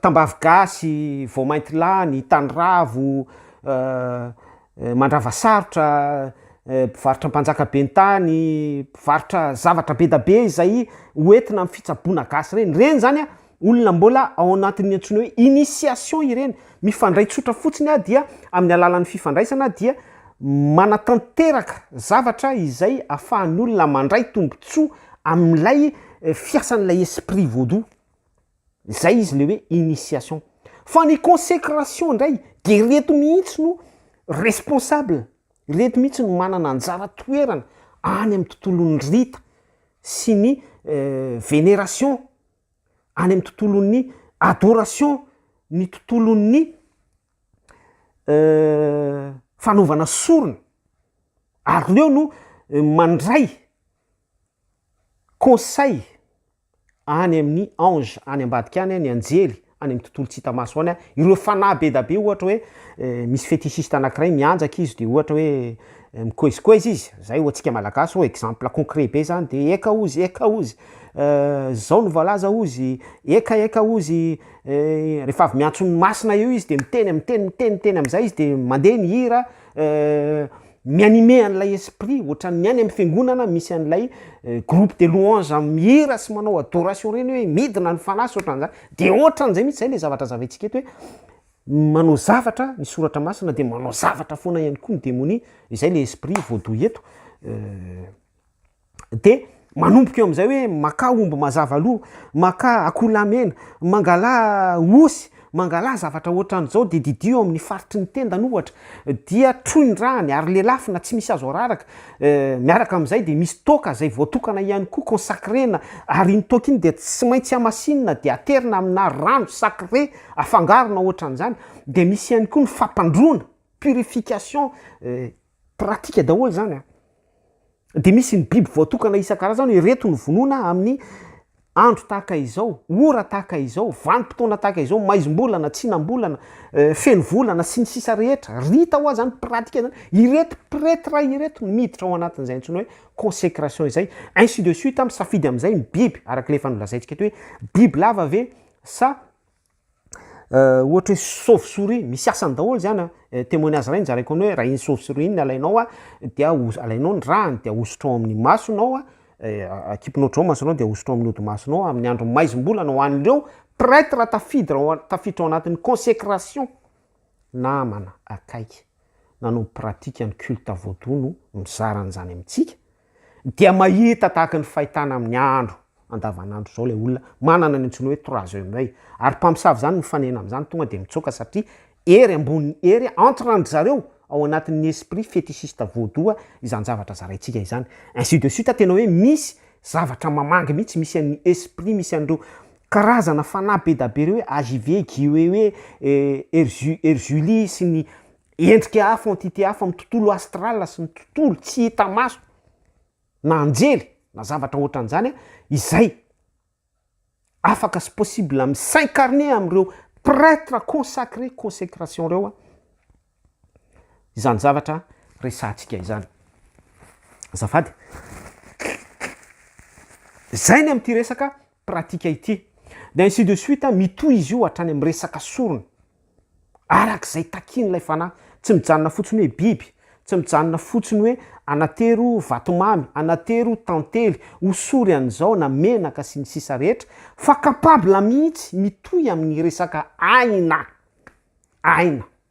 tambavy gasy, voamaintilany, taniravo, mandrava sarotra, mpivarotra mpanjaka be tany, mpivarotra zavatra be da be izay ho entina amin'ny fitsaboana gasy ireny, ireny zany an, olona mbola ao anatin'ny antsoina hoe initiation ireny, mifandray tsotra fotsiny dia amin'ny alalan'ny fifandraisana dia manatanteraka zavatra izay afahan'ny olona mandray tombotsoa amin'ilay fiasan'ilay esprit vaudou, zay izy le hoe initiation. Fa ny consecration ndray de reto mihitsy no responsable, reto mihitsy no manana anjara toerana any amin'ny tontolon'ny rita sy ny veneration, any amin'ny tontolon'ny adoration, ny tontolon'ny fanaovana sorona, ary reo no mandray conseil any amin'ny ange any ambadika any, ny anjely any amin'ny tontolo tsy hita maso any, ireo fanahy be dia be ohatra hoe misy fetichiste anakiray mianjaka izy de ohatra hoe mikoezikoeza izy, zay ho antsika malagasy hoe exemple concret be zany de eka ozy eka ozy zao no voalaza ozy, eka eka ozy. rehefa avy miantso ny masina eo izy de miteny miteny miteny miteny am'zay izy de mandeha ny hira mi-animer an'ilay esprit ohatran'ny any amin'ny fiangonana misy an'ilay groupe de louange am- mihira sy manao adoration reny hoe midina ny fanahy sy ohatran'zany de ohatran'zay mihitsy zay le zavatra zavaintsika eto hoe manao zavatra ny soratra masina de manao zavatra foana ihany koa ny demonia, izay le esprit voadoy eto. de manomboka eo amin'izay hoe makà omby mazava aloha, makà akoholahy mena, mangalà osy, mangalà zavatra ohatran'izao de didio eo amin'ny faritry ny tendany ohatra, dia troy ny ràny ary lelafina tsy misy azo araraka, miaraka amin'izay de misy toaka izay voatokana ihany koa consacrena ary iny toaka iny dia tsy maintsy hamasinina de aterina aminà rano sacré afangaro na ohatran'izany, de misy ihany koa ny fampandroana, purification. pratique daholo zany an! dia misy ny biby voatokana isan-karazany hoe reto no vonoina amin'ny andro tahaka izao, ora tahaka izao, vanim-potoana tahaka izao, maizim-bolana, tsinam-bolana, feno volana, sy ny sisa rehetra, rita hoa zany, pratique zany, ireto pretre ireto no miditra ao anatin'izay antsoina hoe consecration izay, ainsi de suite, misafidy amin'izay ny biby, arak'ilay efa nolazaintsika teo hoe biby lava ve sa Euh, ohatra hoe chauve souris, misy asany daholo zany an, eh, témoignage iray nizaraiko anao hoe raha iny chauve souris iny alainao an, dia alainao ny ràny dia ahosotrao amin'ny masonao an, eh, akipinao hatrao masonao dia ahosotrao amin'ny hodimasonao amin'ny andro maizim-bolana ho an'ireo pretre tafiditra ao tafiditra ao anatin'ny consécration, namana akaiky nanao pratique ny culte voodoo no mizara an'izany amintsika, dia mahita tahaka ny fahitana amin'ny andro andavanandro izao ilay olona manana ny antsoina hoe trois yeux m'oeil ary mpamosavy izany mifanena amin'izany tonga dia mitsoaka satria hery ambony hery entre an-dry zareo ao anatin'ny esprit fétichiste vaudou izany zavatra zaraintsika izany ainsi de suite tena hoe misy zavatra mamangy mihitsy misy an'ny esprit misy an'ireo karazana fanahy be da be ireo hoe AJV, GUEUE, Erzu, Erzuli sy ny Endrika hafa, entité hafa amin'ny tontolo astral sy ny tontolo tsy hita maso, na anjely, na zavatra ohatran'izany, izay afaka sy possible mi-s'incarner amin'ireo prêtre consacré, consécration, ireo izany zavatra resahantsika izany. Azafady. Izay ny amin'ity resaka pratika ity, dia ainsi de suite, mitohy izy io hatrany amin'ny resaka sorona, araka izay takian'ilay fanahy, tsy mijanona fotsiny hoe biby, tsy mijanona fotsiny hoe anatero vatomamy, anatero tantely, osory an'izao na menaka sy ny sisa rehetra, fa capable mihitsy, mitohy amin'ny resaka aina, aina.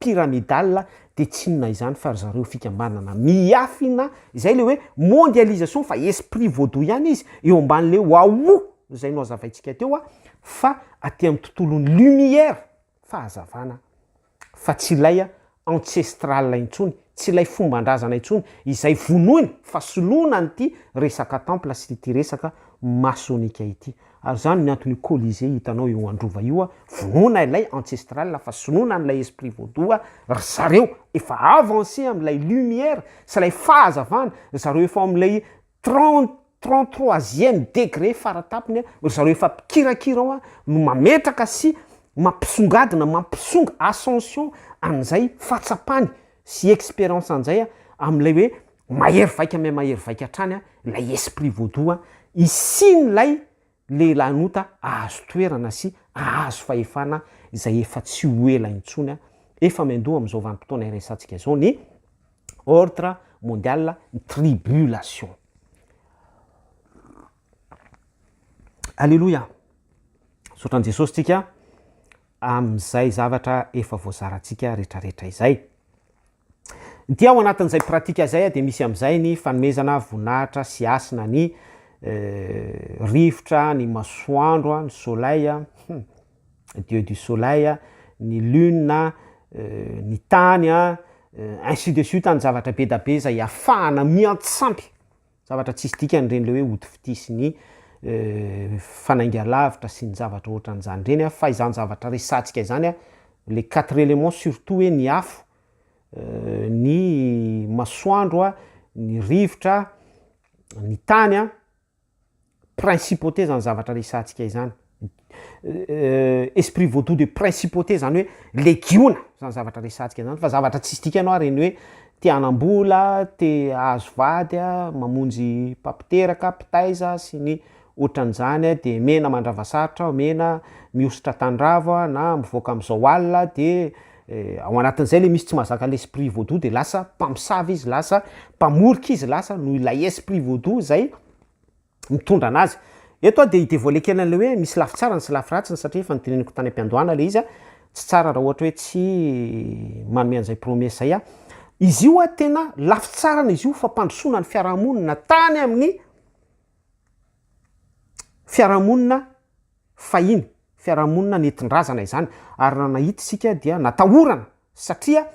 pyramidale dia tsy inona izany fa ry zareo fikambanana miafina izay le hoe mondialisation fa esprit vaudou ihany izy eo ambany le wahoo izay no azavaintsika teo a fa aty amin'ny tontolon'ny lumière fahazavana fa tsy ilay a ancestral intsony tsy ilay fomban-drazana intsony izay vonoina fa soloina an'ity resaka temple sy ity resaka masonika ity Ary zany ny anton'io colisée hitanao eo androva io a, vonoina ilay ancestral fa sinoana an'ilay esprit vaudou a, ry zareo efa avancé amin'ilay lumière sy ilay fahazavana, ry zareo efa ao amin'ilay trente trente troisième degré fara tapony a, ry zareo efa mpikirakira ao a, no mametraka sy mampisongadina, mampisonga ascension an'izay fahatsapany sy expérience an'izay a, amin'ilay hoe Mahery vaika mais mahery vaika hatrany an, ilay esprit vaudou an, hisian'ilay lehilahin'ota hahazo toerana sy hahazo fahefana izay efa tsy ho ela intsony an, efa miandoha amin'izao vanim-potoana iresahantsika izao ny ordre mondial ny tribulation. Aleloia! Misaotra an'i Jesosy tsika amin'izay zavatra efa voazarantsika retraretra izay. Dia ao anatin'izay pratika izay dia misy amin'izay ny fanomezana voninahitra sy hasina ny rivotra, ny masoandro, ny soleil, dieu du soleil, ny lune, ny tany, ainsi de suite, ny zavatra be dia be izay ahafahana miantsampy. Zavatra tsisy dikany ireny le hoe ody fitia sy ny fanaingalavitra sy ny zavatra ohatran'izany ireny an, fa izany zavatra resahantsika izany an, le quatre elements surtout hoe ny afo, ny masoandro an, ny rivotra, ny tany an, principauté zany zavatra resahantsika izany, esprit vaudou de principauté zany hoe legiona zany zavatra resahantsika zany, fa zavatra tsisy dikany hoa reny hoe te hanam-bola, te hahazo vady a, mamonjy mpampiteraka, mpitaiza sy ny ohatran'izany a, de mena mandrava sarotra aho, mena mihosotra tanidravo aho na mivoaka am'zao alina de ao anatin'izay le misy tsy mahazaka le esprit vaudou de lasa mpamosavy izy, lasa mpamorika izy, lasa noho ilay esprit vaudou zay. mitondra anazy. Eto aho dia hi devoiler kely an'ilay hoe misy lafy tsarany sy lafy ratsiny satria efa noteneniko tany am-piandohana ilay izy, tsy tsara raha ohatra hoe tsy manome an'izay promesse izay aho. Izy io an, tena lafy tsarany izy io, fampandrosoana ny fiarahamonina tany amin'ny fiarahamonina. Fahiny, fiarahamonina nentin-drazana izany ary raha nahita isika dia natahorana satria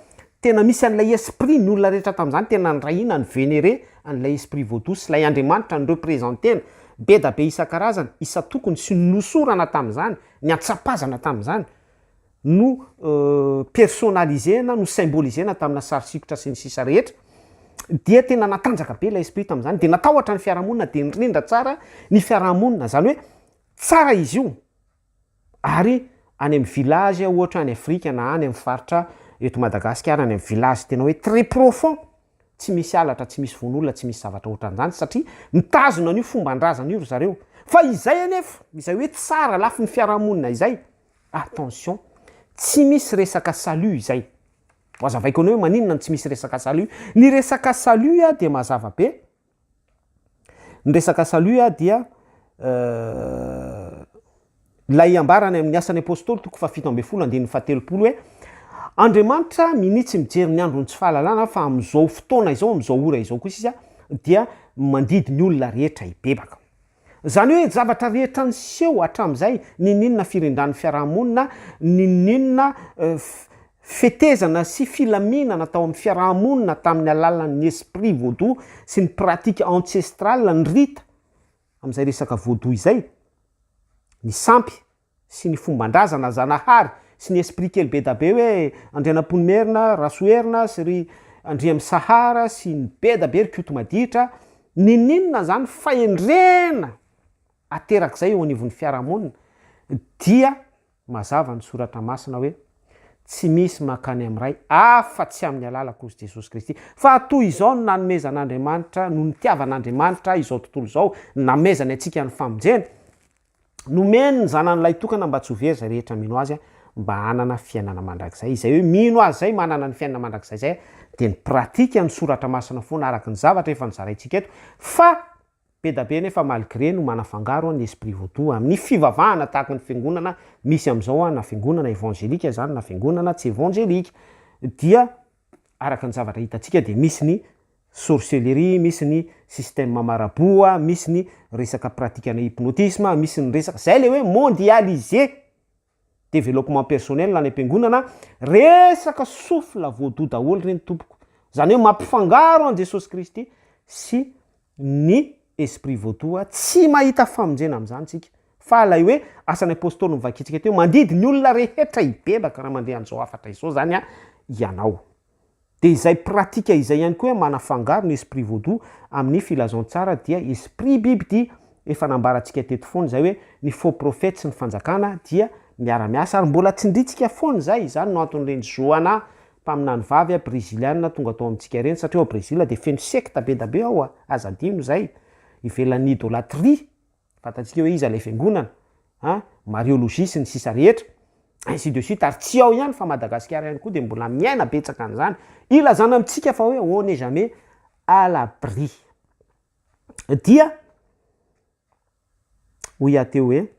tena misy an'ilay esprit, ny olona rehetra tamin'izany tena nirahina, ni-venerer an'ilay esprit vaudou sy ilay andriamanitra ni-representer-na, bedabe isan-karazany, isan-tokony sy nohosorana tamin'izany, niantsapazana tamin'izany. no personnaliser na no symboliser-na tamina sary sikotra sy ny sisa rehetra, dia tena natanjaka be ilay esprit tamin'izany, dia natahotra ny fiarahamonina, dia nirindra tsara ny fiarahamonina, izany hoe tsara izy io, ary any amin'ny village ohatra any Afrika na any amin'ny faritra eto Madagasikara any amin'ny village tena hoe très profond, tsy misy halatra, tsy misy vono olona, tsy misy zavatra ohatran'izany satria mitazona an'io fomban-drazana io ry zareo, fa izay anefa, izay hoe tsara lafiny fiarahamonina izay, Attention, tsy misy resaka salut izay. Hoazavaiko anao hoe maninona no tsy misy resaka salut. Ny resaka salut dia mazava be, ny resaka salut dia ilay ambara any amin'ny asan'ny apostoly toko fahafito ambin'ny folo andininy fahatelopolo hoe Andriamanitra minia tsy mijery ny andron'ny tsy fahalalana fa amin'izao fotoana izao, amin'izao ora izao kosa izy dia mandidy ny olona rehetra hibebaka. Izany hoe zavatra rehetra niseho hatramin'izay, n'inon'inona firindran'ny fiaraha-monina, n'inon'inona fetezana sy filaminana tao amin'ny fiaraha-monina tamin'ny alalan'ny esprit vodou sy ny pratique ancestrale, ny rita, amin'izay resaka vodou izay, ny sampy, sy ny fomban-drazana Zanahary sy ny esprit kely bedabe hoe Andrianampoinimerina, Rasoherina sy ry Andriamisahara sy ny bedabe ry Koto maditra, ninininona izany fahendrena aterak'izay eo anivon'ny fiarahamonina dia mazava ny soratra masina hoe tsy misy mankany amin'ny Ray afa tsy amin'ny alalako ozy Jesosy Kristy fa toy izao no nanomezan'Andriamanitra no nitiavan'Andriamanitra izao tontolo izao namezany antsika ny famonjena Nomeny ny Zanany lahitokana mba tsy ho very izay rehetra mino Azy mba hanana fiainana mandrakizay. Izay hoe mino Azy izay manana ny fiainana mandrakizay izay dia ny pratika ny soratra masina foana araka ny zavatra efa nozaraintsika eto fa bedabe anefa malgré no manafangaro ny esprit vaudou amin'ny fivavahana tahaka ny fiangonana misy amin'izao na fiangonana evangelika izany na fiangonana tsy evangelika dia Araka ny zavatra hitantsika dia misy ny sorcellerie, misy ny système marabout, misy ny resaka pratikana hypnotisme, misy ny resaka, izay ilay hoe mondialisé, développement personnel any am-piangonana, resaka souffle voodoo daholo ireny tompoko, izany hoe mampifangaro an'i Jesosy Kristy sy ny esprit voatoha, tsy mahita famonjena amin'izany tsika, fa ilay hoe asan'ny apostoly no vakintsika teo, mandidy ny olona rehetra hibebaka raha mandeha an'izao hafatra izao izany ianao. Dia izay pratika izay ihany koa hoe manafangaro ny esprit vaudou amin'ny filazantsara dia esprit bibidia, efa nambarantsika teto foana izay hoe ny faux prophète sy ny fanjakana dia miara-miasa ary mbola tsindrintsika foana izay, izany no anton'ireny zoanà Mpaminany vavy a Breziliana tonga tao amintsika ireny satria ao Brezila dia feno sekta be da be ao a! Aza adino izay! Ivelan'ny idolatria! Fantatsika hoe iza ilay fiangonana a! Mariologie sy ny sisa rehetra! Ainsi de suite! Ary tsy ao ihany fa Madagasikara ihany koa dia mbola miaina betsaka an'izany! Ilazana amintsika fa hoe on n'est jamais à l'abri! Dia. Hoy aho teo hoe,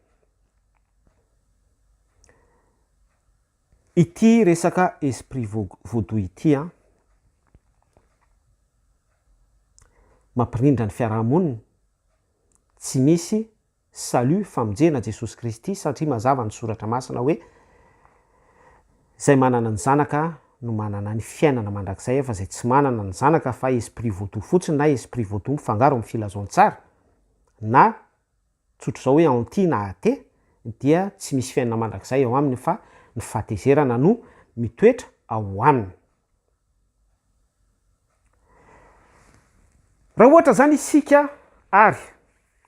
Ity resaka esprit vaudou ity an, mampirindra ny fiaraha-monina, tsy misy salut, famonjena, Jesosy Kristy satria mazava ny Soratra Masina hoe, Izay manana ny Zanaka no manana ny fiainana mandrakizay fa izay tsy manana ny Zanaka fa esprit vaudou fotsiny na esprit vaudou mifangaro amin'ny filazantsara, na tsotra izao hoe anti na ate dia tsy misy fiainana mandrakizay ao aminy fa ny fahatezerana no mitoetra ao aminy. Raha ohatra izany isika ary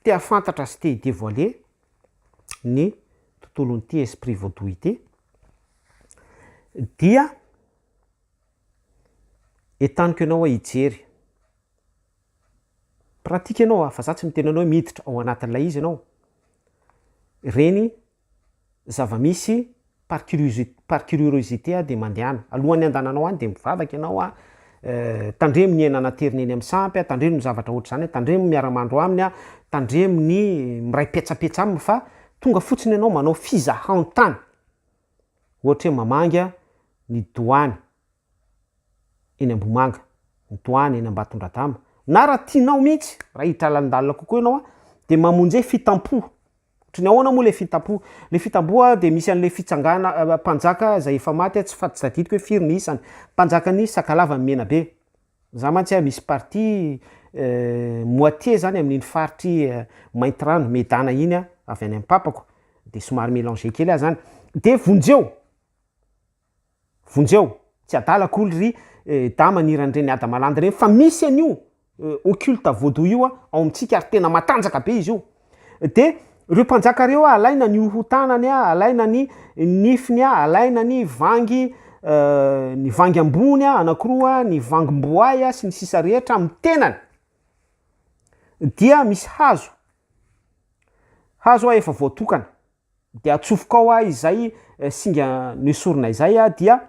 te hahafantatra sy te hi-devoiler ny tontolon'ity esprit vaudou ity dia entaniko ianao hoe hijery pratique ianao a, fa za tsy miteny anao hoe miditra ao anatin'ilay izy ianao, ireny zava-misy par curiosité, par curiorosité aho dia mandehana, alohan'ny handehananao any dia mivavaka ianao a, tandremo ny aina naterina eny amin'ny sampy a, tandremo ny zavatra ohatr'izany a, tandremo ny miara-mandro aminy a, tandremo ny miray petsapetsa aminy fa tonga fotsiny ianao manao fizahantany. ohatra hoe mamangy ny doany eny Ambohimanga, ny doany eny Ambatondradama, na raha tianao mihitsy, raha hiditra lalindalina kokoa ianao dia mamonje fitampo, ohatra ny ahoana moa ilay fitampo, ilay fitampo dia misy an'ilay fitsangana, mpanjaka izay efa maty tsy tadidiko hoe firy ny isany, mpanjakan'i Sakalava ny Menabe. Za mantsy a misy partie moitié zany amin'iny faritry Maintirano, Medana iny a, avy any am papako, de somary mélangé kely ahy zany, de vonjeo, vonjeo, tsy adala akory ry dama aniran'ireny ady malandy reny fa misy an'io occulte voodoo io ao amintsika ary tena matanjaka be izy io, Dia ireo mpanjaka ireo ah, alaina ny hohotanany ah, alaina ny nifiny ah, alaina ny vangy euh, ny vangy ambony ah, anakiroa, ny vangim-boay ah, sy ny sisa rehetra amin'ny tenany. Dia misy hazo, hazo ah, efa voatokana. dia atsofoka ao aho izay eh, singa noesorina izay ah, dia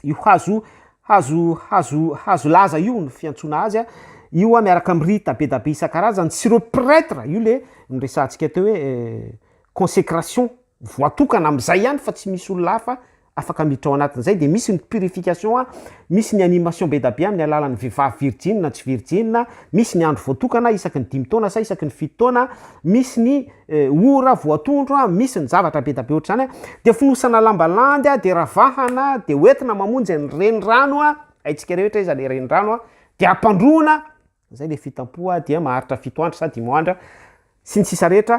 io hazo hazo hazo hazo laza io no fiantsoana azy ah. io ah, miaraka amin'ny rita be da be isan-karazany sy ireo prêtre io le niresahantsika teo hoe eh, consécration voatokana amin'izay ihany fa tsy misy olona hafa afaka miditra ao anatin'izay dia misy ny purification a, misy ny animation be da be amin'ny alalan'ny vehivavy virjiny na tsy virjiny, misy ny andro voatokana isaky ny dimy taona sa isaky ny fito taona, misy ny ora voatondro a, misy ny zavatra be da be ohatr'izany a, dia fonosana lamba landy a, dia ravahana a, dia hoentina mamonjy ny renirano a, haintsika rehetra iza le renirano a, dia ampandroana, Izay le fitampoha a, dia maharitra fito andro sa dimo andra, sy ny sisa rehetra,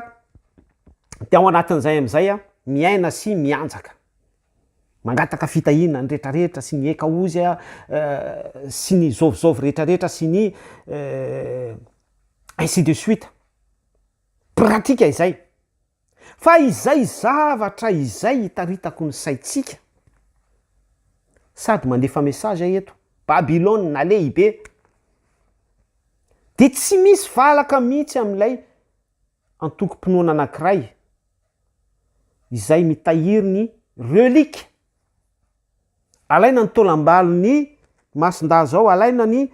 de ao anatin'izay amizay a, miaina sy mianjaka, mangataka fitahiana ny rehetra rehetra sy ny eka ozy a, sy ny zôvizôvy rehetra rehetra sy ny ainsi de suite, pratika izay. Fa izay zavatra izay itaritako ny saintsika sady mandefa message aho eto, Babylona lehibe dia tsy misy valaka mihitsy amin'ilay antokom-pinoana anankiray izay mitahiry ny reliques. Alaina ny taolam-balon'ny masin-dahy izao, alaina ny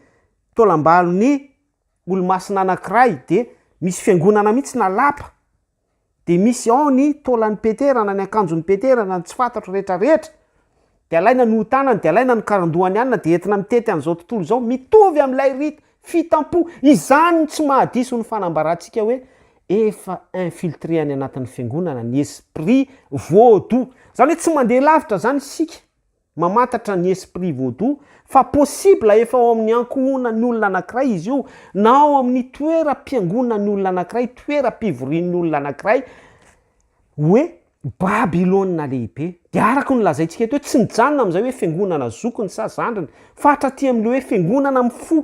taolam-balon'ny. olomasina anankiray de misy fiangonana mihitsy na lapa de misy ao ny taolan'i Petera na ny akanjon'i Petera na ny tsy fantatro rehetra rehetra de alaina ny oha-tanany de alaina ny karandohany anona de entina mitety an'izao tontolo izao mitovy amin'ilay rite fitampo izany no tsy mahadiso ny fanambarantsika hoe efa infiltré any anatin'ny fiangonana ny esprit voa-doux izany hoe tsy mandeha lavitra izany isika Mamantatra ny esprit vaudou fa possible efa ao amin'ny ankohonan'ny olona anankiray izy io na ao amin'ny toeram-piangonan'ny olona anankiray, toeram-pivorian'ny olona anankiray hoe Babylona lehibe. Dia araka ny lazaintsika eto hoe tsy nijanona amin'izay hoe fiangonana zokiny sa zandriny fa hatraty amin'ilay hoe fiangonana amin'ny fo.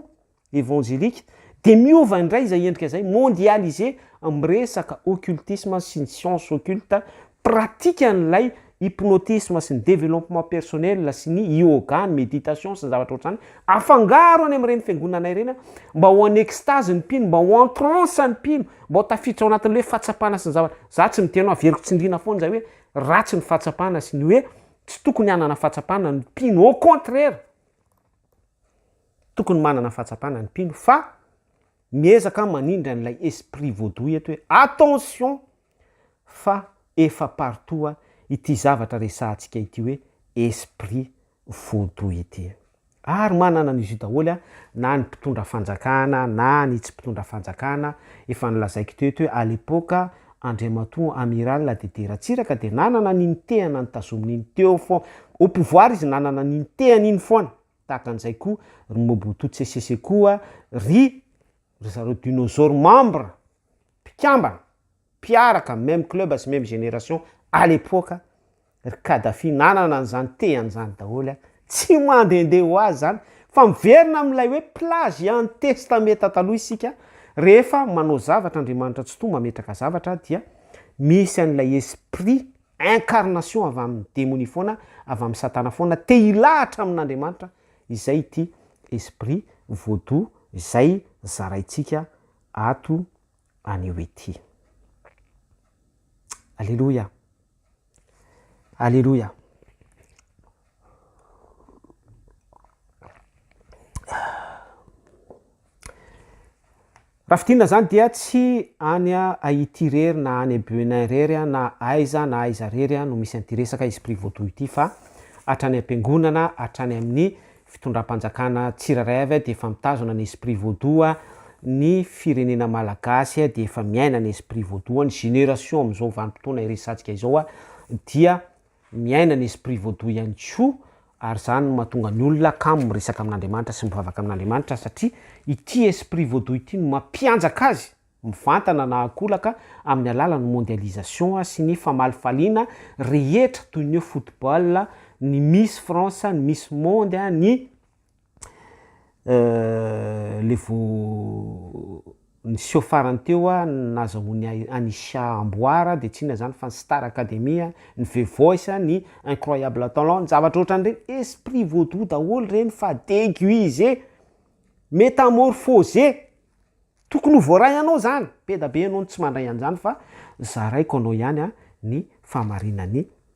Evanjelika, dia miova indray izay endrika izay, mondialisé, amin'ny resaka occultisme sy ny science occulte, pratikan'ilay hypnotisme sy ny développement personnel sy ny yoga, ny méditation sy ny zavatra ohatr'izany, afangaro any amin'ireny fiangonana ireny mba ho en extase ny mpino, mba ho en transe ny mpino, mba ho tafiditra ao anatin'ilay hoe fahatsapana sy ny zavatra, za tsy miteny hoe averiko tsindriana foana izay hoe ratsy ny fahatsapana sy ny hoe tsy tokony hanana fahatsapana ny mpino, au contraire. Tokony manana fahatsapana ny mpino fa miezaka aho manindry an'ilay esprit vaudou eto hoe attention fa efa partout ity zavatra resahantsika ity hoe esprit vaudou ity. Ary manana an'izy io daholo na ny mpitondra fanjakana na ny tsy mpitondra fanjakana, efa nolazaiko teo eto hoe à l'époque Andriamatoa Amiral Dédé Ratsiraka dia nanana an'iny tehana nitazominy iny teo foana, au pouvoir izy nanana an'iny tehany iny foana. Tahaka an'izay koa ry Mobutu Sese Sese koa ry ry zareo Dinosaur membre, mpikambana, mpiaraka même club sy même génération à l'époque ry Kadhafi nanana an'izany tehany izany daholo an! Tsy mandehandeha ho azy izany fa miverina amin'ilay hoe plagiant testameta taloha isika rehefa manao zavatra Andriamanitra Tsitoha mametraka zavatra dia misy an'ilay esprit Incarnation avy amin'ny demonia foana, avy amin'ny satana foana, te hilahatra amin'Andriamanitra, izay ity esprit vaudou izay zaraintsika ato anio ity. Alléluia! Alléluia! Raha fidinina zany dia tsy any a Haiti rery na any Benin rery a na aiza na aiza rery a no misy an'ity resaka esprit vaudou ity fa hatrany am-piangonana hatrany amin'ny fitondram-panjakana tsirairay avy a dia efa mitazona ny esprit vaudou a ny firenena malagasy a dia efa miaina ny esprit vaudou a ny génération amin'izao vanim-potoana iresatsika izao a dia Miaina ny esprit vaudou ihany koa ary izany no mahatonga ny olona kamo miresaka amin'Andriamanitra sy mivavaka amin'Andriamanitra satria ity esprit vaudou ity no mampianjaka azy mivantana na akolaka amin'ny alalan'ny mondialisation sy ny famalifaliana rehetra toy ny hoe football, ny miss France, ny miss monde, ny. le vao niseho farany teo an, nazahoany ahy Anisha Amboara de tsy inona zany fa ny Star Academy an, ny The Voice an, ny Incroyable Talent, ny zavatra ohatran'ireny, esprit vaudou daholo reny fa deguisé, métamorphosé, tokony ho voaray anao zany, be da be ianao no tsy mandray an'zany fa zaraiko anao ihany ny fahamarinan'ny.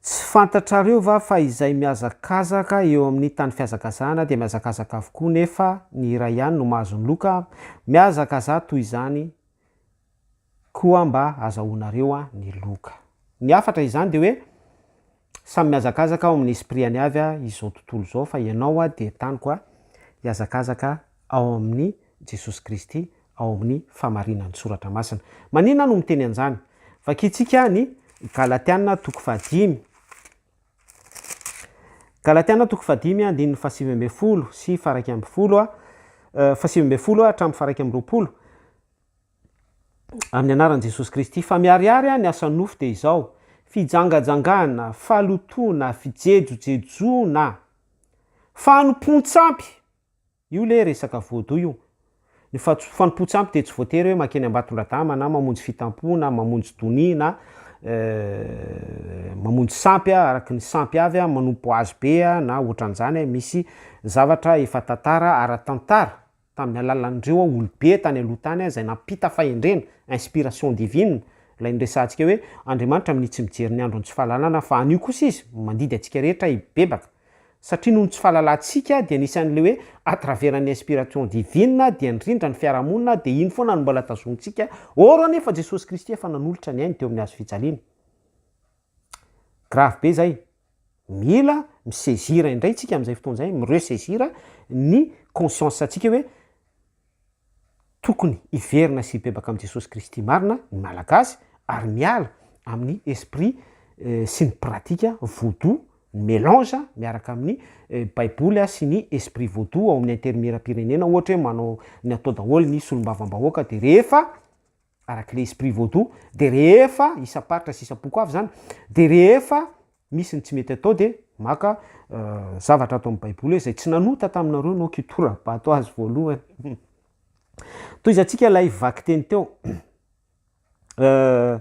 Tsy fantatrareo va fa izay mihazakazaka eo amin'ny tany fihazakazahana dia mihazakazaka avokoa nefa ny iray ihany no mahazo ny loka? Mihazakazaha toy izany koa mba azahoanareo ny loka. Ny hafatra izany dia hoe. Samy mihazakazaka ao amin'ny esprit-any avy a izao tontolo izao fa ianao a dia taniko a hihazakazaka ao amin'ny Jesosy Kristy ao amin'ny fahamarinan'ny Soratra Masina. Maninona no miteny an'izany? Vakintsika ny Galatiana toko fahadimy. Galatiana toko fahadimy andininy fahasivy ambin'ny folo sy faharaika ambin'ny folo a, fahasivy ambin'ny folo a hatramin'ny faharaika amby roapolo. Amin'ny anaran'i Jesosy Kristy. Fa miharihary aho ny asa nofo dia izao, fijangajangana, falotoana, fijejojejoana, fanompoan-tsampy, io le resaka vaudou io, ny fanompoan-tsampy dia tsy voatery hoe mankeny Ambatondradama na mamonjy fitampoha na mamonjy donia na mamonjy sampy aho araka ny sampy avy aho, manompo hazo be aho na ohatran'izany, misy zavatra efa tantara, ara-tantara. tamin'ny alalan'ireo aho olobe tany aloha tany aho izay nampita fahendrena, inspiration divine, ilay noresahantsika hoe Andriamanitra minia tsy mijery ny andron'ny tsy fahalalana aho fa anio kosa izy mandidy antsika rehetra hibebaka satria noho ny tsy fahalalantsika dia nisy an'ilay hoe à travers ny inspiration divine dia nirindra ny fiarahamonina dia iny foana no mbola tazonintsika or anefa Jesosy Kristy efa nanolotra ny ainy teo amin'ny hazo fijaliana Grave be zay. Mila mi-saisir indray tsika amin'izay fotoana izay, mi-ressaisir ny conscience antsika hoe tokony hiverina sy hibebaka amin'i Jesosy Kristy marina ny Malagasy ary miala amin'ny esprit sy ny pratika vodou, ny melange miaraka amin'ny baiboly sy ny esprit vodou ao amin'ny intermiram-pirenena ohatra hoe manao ny atao daholo ny solombavambahoaka dia rehefa araka ilay esprit vaudou dia rehefa isam-paritra sy isam-poko avy izany dia rehefa misy ny tsy mety atao dia maka euh, zavatra ato amin'ny baiboly izay tsy nanota taminareo no kitoram-bato azy voalohany toizantsika ilay vaky teny teo euh,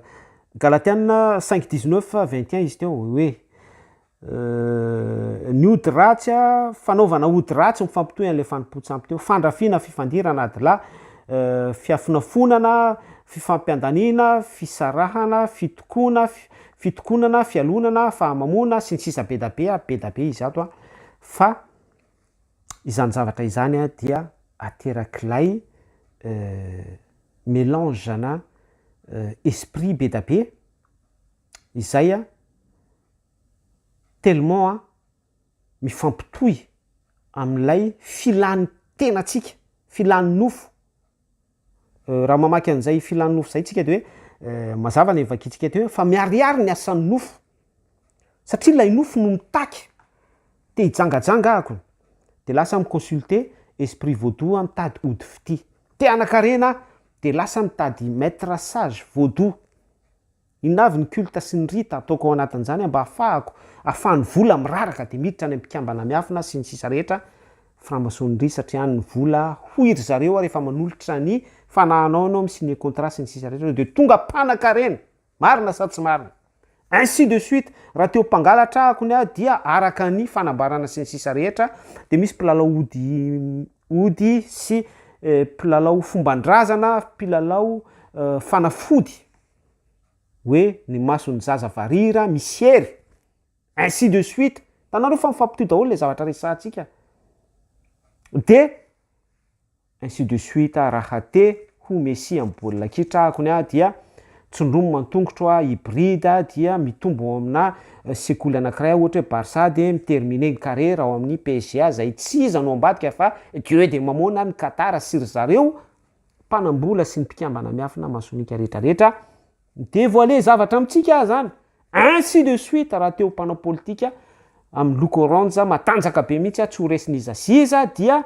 galatiana 5 19 21 izy teo hoe Euh, ny ody ratsy a, fanaovana ody ratsy mifampitohy an'ilay fanompoan-tsampy teo, fandrafiana, fifandirana ady lahy, euh, fiafonafonana, fifampiandaniana, fisarahana, fitokoana, fitokonana, fialonana, fahamamoana, sy ny sisa Bedabe a, bedabe izato a, fa izany zavatra izany a dia aterak'ilay euh, melange ana euh, esprit bedabe izay a, tellement a mifampitohy amin'ilay filan'ny tenantsika, filan'ny nofo, raha mamaky an'izay filan'ny nofo izay tsika dia hoe mazava ny vakintsika teo hoe fa miharihary ny asan'ny nofo satria ilay nofo no mitaky, te hijangajanga ahako dia lasa mi consulter esprit vaudou aho mitady ody fitia, te hanan-karena aho dia lasa mitady maitre sage vaudou. Inona avy ny culte sy ny rite ataoko ao anatin'izany mba hafahako afahan'ny vola miraraka dia miditra any amin'ny mpikambana miafina sy ny sisa rehetra franc-maçonnerie satria any ny vola hoy ry zareo ary efa manolotra ny fanahanao ianao mi-signer contrat sy ny sisa rehetra ianao dia tonga mpanakarena marina sa tsy marina ainsi de suite raha te ho mpangalatra ahako ny ahy dia araka ny fanambarana sy ny sisa rehetra dia misy mpilalao ody ody sy mpilalao fomban-drazana mpilalao fanafody hoe ny mason'ny zaza varira misy hery, ainsi de suite, hitanareo fa mifampitohy daholo ilay zavatra resahantsika, dia ainsi de suite, raha te ho Messi amin'ny baolina kitra akony aho dia tsindromy man-tongotro aho hybride aho dia mitombo ao aminà sekoly anankiray aho ohatra hoe Barça dia mi-terminer ny carrière ao amin'ny PSG aho izay tsy iza no ambadika fa Dieu de Mammon na ny Qatar sy ry zareo, mpanambola sy ny mpikambana miafina masonika rehetra rehetra midevoile zavatra amintsika zany ainsi de suite raha teo mpanao politika amin'ny loko orange matanjaka be mihitsy aho tsy ho resin'iza sy iza dia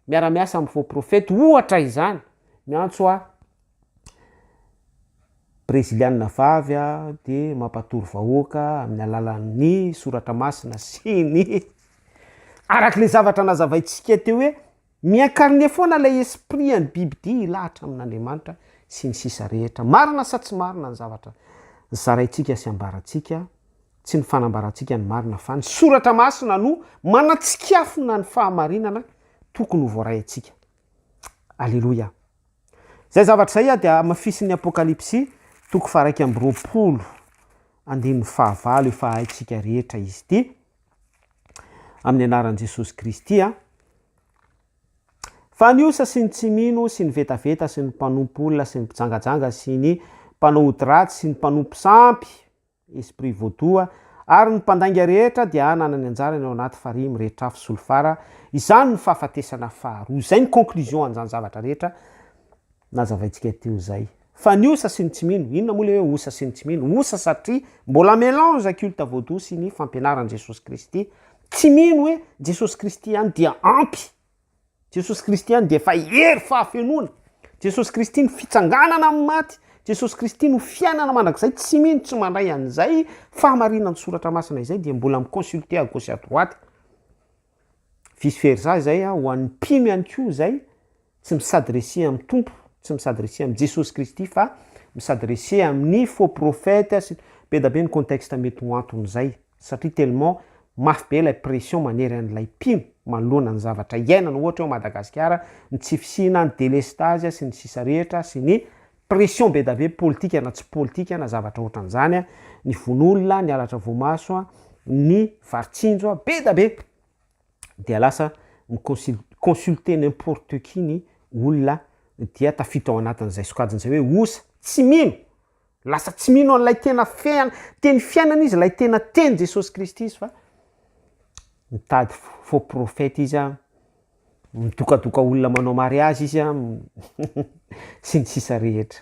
miara-miasa amin'ny faux prophète ohatra izany miantso ahy breziliana vavy aho dia mampatory vahoaka amin'ny alalan'ny soratra masina sy ny arak'ilay zavatra nazavaintsika teo hoe Miincarner foana ilay esprit an'ny bibidia hilahatra amin'Andriamanitra sy ny sisa rehetra. Marina sa tsy marina ny zavatra zaraintsika sy ambarantsika? Tsy ny fanambarantsika ny marina fa ny soratra masina no manatsikafona ny fahamarinana tokony ho voaraintsika. Aleloia. Izay zavatra izay ah dia hamafisin'ny Apokalypsy toko faharaika amby roapolo andininy fahavalo efa haintsika rehetra izy ity amin'ny anaran'i Jesosy Kristy a! Fa ny osa sy ny tsy mino sy ny vetaveta sy ny mpanompo olona sy ny mpijangajanga sy ny mpanao ody ratsy sy ny mpanompo sampy, esprit vaudou, ary ny mpandainga rehetra dia hananany anjarany ao anaty farihy mirehitra afo solifara, izany no fahafatesana faharoa. Izay ny conclusion an'izany zavatra rehetra. Nazavaintsika teo izay. Fa ny osa sy ny tsy mino, inona moa ilay hoe osa sy ny tsy mino? Osa satria mbola melange culte vaodoha sy ny fampianaran'i Jesosy Kristy. Tsy mino hoe Jesosy Kristy ihany dia ampy. Jesosy Kristy ihany dia efa hery fahafenoana. Jesosy Kristy no fitsanganana amin'ny maty. Jesosy Kristy no fiainana mandrakizay. Tsy mino, tsy mandray an'izay fahamarinan'ny soratra masina izay dia mbola mi-consulter à gauche à droite. vice versa izay ho an'ny mpino ihany koa izay tsy misadresse amin'ny Tompo, tsy misadresse amin'i Jesosy Kristy fa misadresse amin'ny faux prophète sy be da be ny contexte mety ho anton'izay satria tellement mafy be ilay pression manery an'ilay mpino manoloana ny zavatra iainana ohatra eo Madagasikara, ny tsy fisiana, ny delestazy sy ny sisa rehetra sy ny Pression bedabe politika na tsy politika na zavatra ohatran'izany a, ny vono olona, ny halatra voamaso a, ny varitsinjo a, bedabe dia lasa mi-consul- consulter n'importe qui ny olona dia tafiditra ao anatin'izay sokajiny izay hoe osa, tsy mino, lasa tsy mino an'ilay tena fean- teny fiainana izy, ilay tena teny Jesosy Kristy izy fa mitady fo- faux prophète izy a. Midokadoka olona manao mariazy izy an, sy ny sisa rehetra.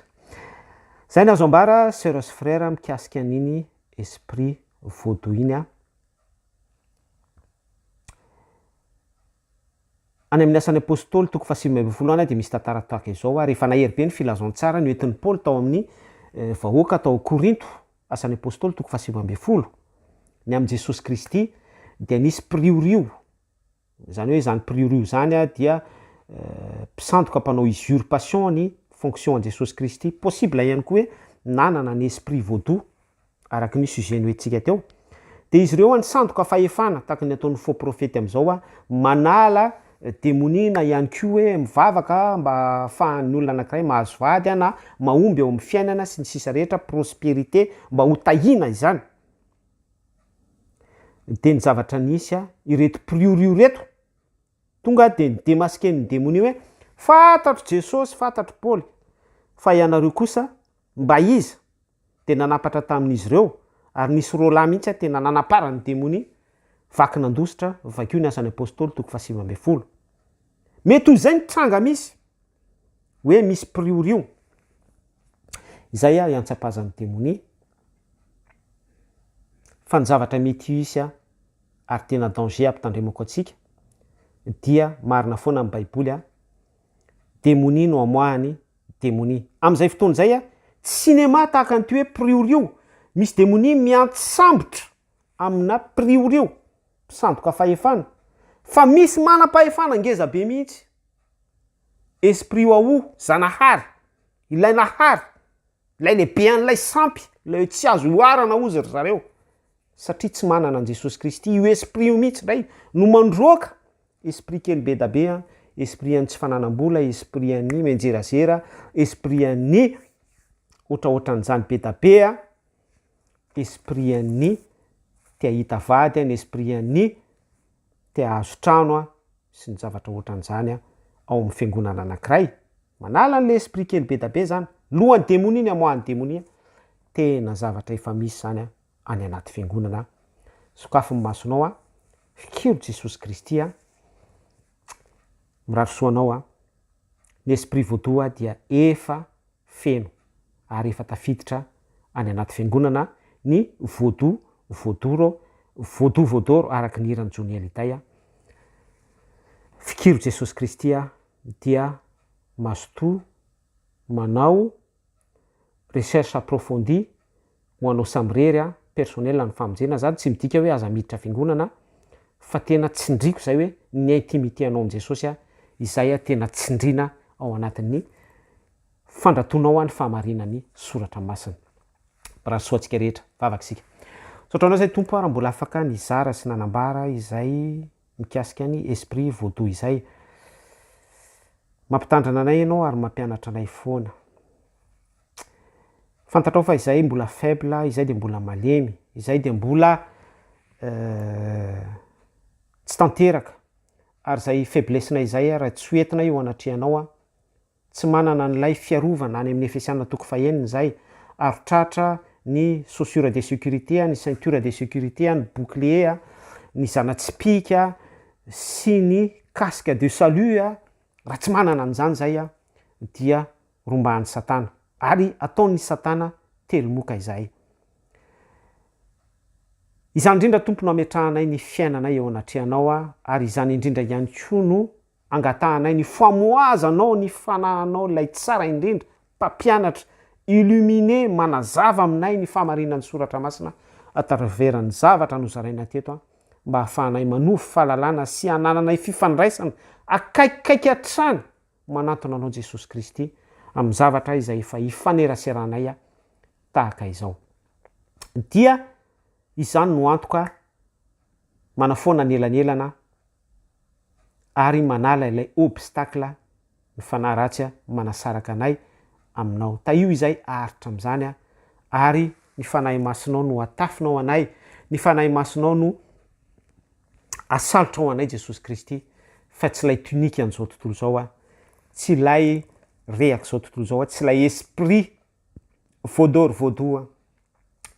Zay no azo ambara soeur sy frère mikasika an'iny esprit vaudou iny an. Any amin'ny asan'ny apostoly toko faha sivy ambin'ny folo any dia misy tantara tahaka izao ary efa nahery be ny filazantsara noentin'i Paoly tao amin'ny vahoaka tao Korinto, asan'ny apostoly toko faha sivy ambin'ny folo, ny amin'i Jesosy Kristy dia nisy mpiriorio, Zany hoe zany priore io zany dia mpisandoka mpanao usurpation ny fonction an'i Jesosy Kristy. Possible ihany koa hoe nanana ny esprit vaodoha araky ny sujet noentintsika teo. Dia izy ireo nisandoka fahefana tahaka ny ataon'ny faux prophète amin'izao, manala demonia na ihany koa hoe mivavaka mba ahafahan'ny olona anankiray mahazo vady na mahomby eo amin'ny fiainana sy ny sisa rehetra, prospérité, mba ho tahiana izany. Niteny zavatra nisy aho, ireto mpiriorio ireto, tonga dia nidemaskian'ny demonia hoe, fantatro Jesosy, fantatro Paoly, fa ianareo kosa mba iza? Dia nanampatra tamin'izy ireo, ary nisy roa lahy mihitsy aho tena nanaparan'ny demonia, vaky nandositra, vakio ny asan'ny apostoly, toko fahasivy ambin'ny folo. Mety ho izay ny tranga misy, hoe misy mpiriorio. Izay aho iantsapazan'ny demonia. Fa ny zavatra mety hisy ary tena danger hampitandremako antsika dia marina foana ny baiboly a, demonia no amoahany demonia. Amin'izay fotoana izay a, tsy cinéma tahaka an'ity hoe priorio, misy demonia miantsambotra amina priorio, mpisandoka fahefana, fa misy manam-pahefana ngeza be mihitsy, esprit waouh, zanahary, ilay nahary, Ilay lehibe an'ilay sampy, ilay hoe tsy azo oharana hozy ry zareo, satria tsy manana an'i Jesosy Kristy, io esprit io mihitsy indray no mandroaka, esprit kely be da be, esprit an'ny tsy fananam-bola, esprit an'ny mianjerazera, esprit an'ny ohatraohatran'izany be da be, esprit an'ny te hahita vady, ny esprit an'ny te hahazo trano sy ny zavatra ohatran'izany ao amin'ny fiangonana anankiray. Manala anle esprit kely bedabe zany, lohan'ny demonia ny amoahan'ny demonia, tena zavatra efa misy zany an, any anaty fiangonana an, sokafy ny masonao an, fikiro Jesosy Kristy an, mirary soa anao an, ny esprit vaudou dia efa feno ary efa tafiditra any anaty fiangonana ny vaudou vaudoro, vaudou vaudoro araka ny hiran'i Johnny Hallyday an, fikiro Jesosy Kristy an, dia mazotoa manao recherche approfondie ho anao samirery an, personnel ny famonjena, zany tsy midika hoe aza miditra fiangonana fa tena tsindriko izay hoe ny intimité anao amin'i Jesosy an, izay an tena tsindrina ao anatin'ny fandratoanao an ny fahamarinan'ny soratra masina. Mirary soa antsika rehetra, vavaka isika. Misaotra anao izay Tompo an raha mbola afaka nizara sy nanambara izay. mikasika ny esprit vaudou izay. Mampitandrina anay ianao ary mampianatra anay foana. Fantatrao fa izahay mbola faible, izahay dia mbola malemy, izahay dia mbola tsy tanteraka, ary izay faiblesse-nay izay ary tsy ho entinay eo anatrehanao. Tsy manana an'ilay fiarovana any amin'ny Efesiana toko fahenina izay, aro tratra, ny chaussures de sécurité, ny ceinture de sécurité, ny bouclier, ny zana-tsipìka, sy ny casque de salut, raha tsy manana an'izany izay dia rombahan'i Satana, ary ataon'i Satana telo moka izahay. Izany indrindra Tompo no ametrahanay ny fiainanay eo anatrehanao, ary izany indrindra ihany koa no Angatahanay ny famohazanao ny fanahanao ilay tsara indrindra mpampianatra, illumine, manazava aminay ny fahamarinan'ny soratra masina à travers ny zavatra nozarainay teto mba hahafahanay manovo fahalalana sy hanananay fifandraisana akaikikaiky hatrany manantona anao Jesosy Kristy amin'ny zavatra izay efa ifaneraseranay tahaka izao dia izany no antoka manafoana ny elanelana ary manala ilay obstacle ny fanahy ratsy manasaraka anay aminao tahio izay aharitra amin'izany aho ary ny fanahy masinao no atafina ao anay ny fanahy masinao no asalotra ao anay Jesosy Kristy fa tsy ilay tunique an'izao tontolo izao aho tsy ilay rehaka izao tontolo izao aho tsy ilay esprit voadoro voadoha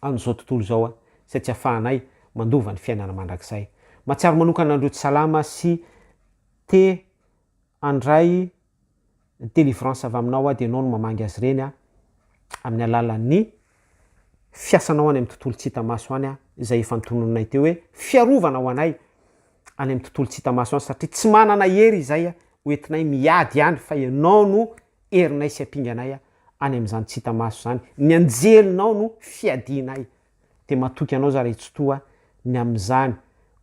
an'izao tontolo izao aho izay tsy afahanay mandova ny fiainana mandrakizay. Mahatsiaro manokana an'ireo tsy salama sy te handray délivrance avy aminao aho dia ianao no mamangy azy ireny aho amin'ny alalan'ny fiasanao any amin'ny tontolo tsy hita maso any aho izay efa notononinay teo hoe fiarovana ho anay any amin'ny tontolo tsy hita maso any satria tsy manana hery izay hoentinay miady any fa ianao no herinay sy ampinganay aho any amin'izany tsy hita maso izany, ny anjelinao no fiadianay, dia matoky anao za ry Tsitoha ny amin'izany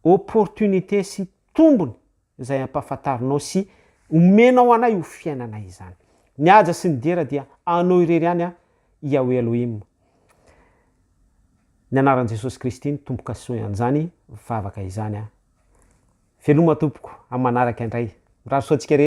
opportunité sy tombony izay ampahafantarinao sy omenao anay ho fiainanay izany. Ny haja sy ny dera dia anao irery ihany an Yahweh Elohim. Ny anaran'i Jesosy Kristy no tombokasoy an'izany vavaka izany an. Veloma tompoko amin'ny manaraka indray. Mirary soa antsika rehetra.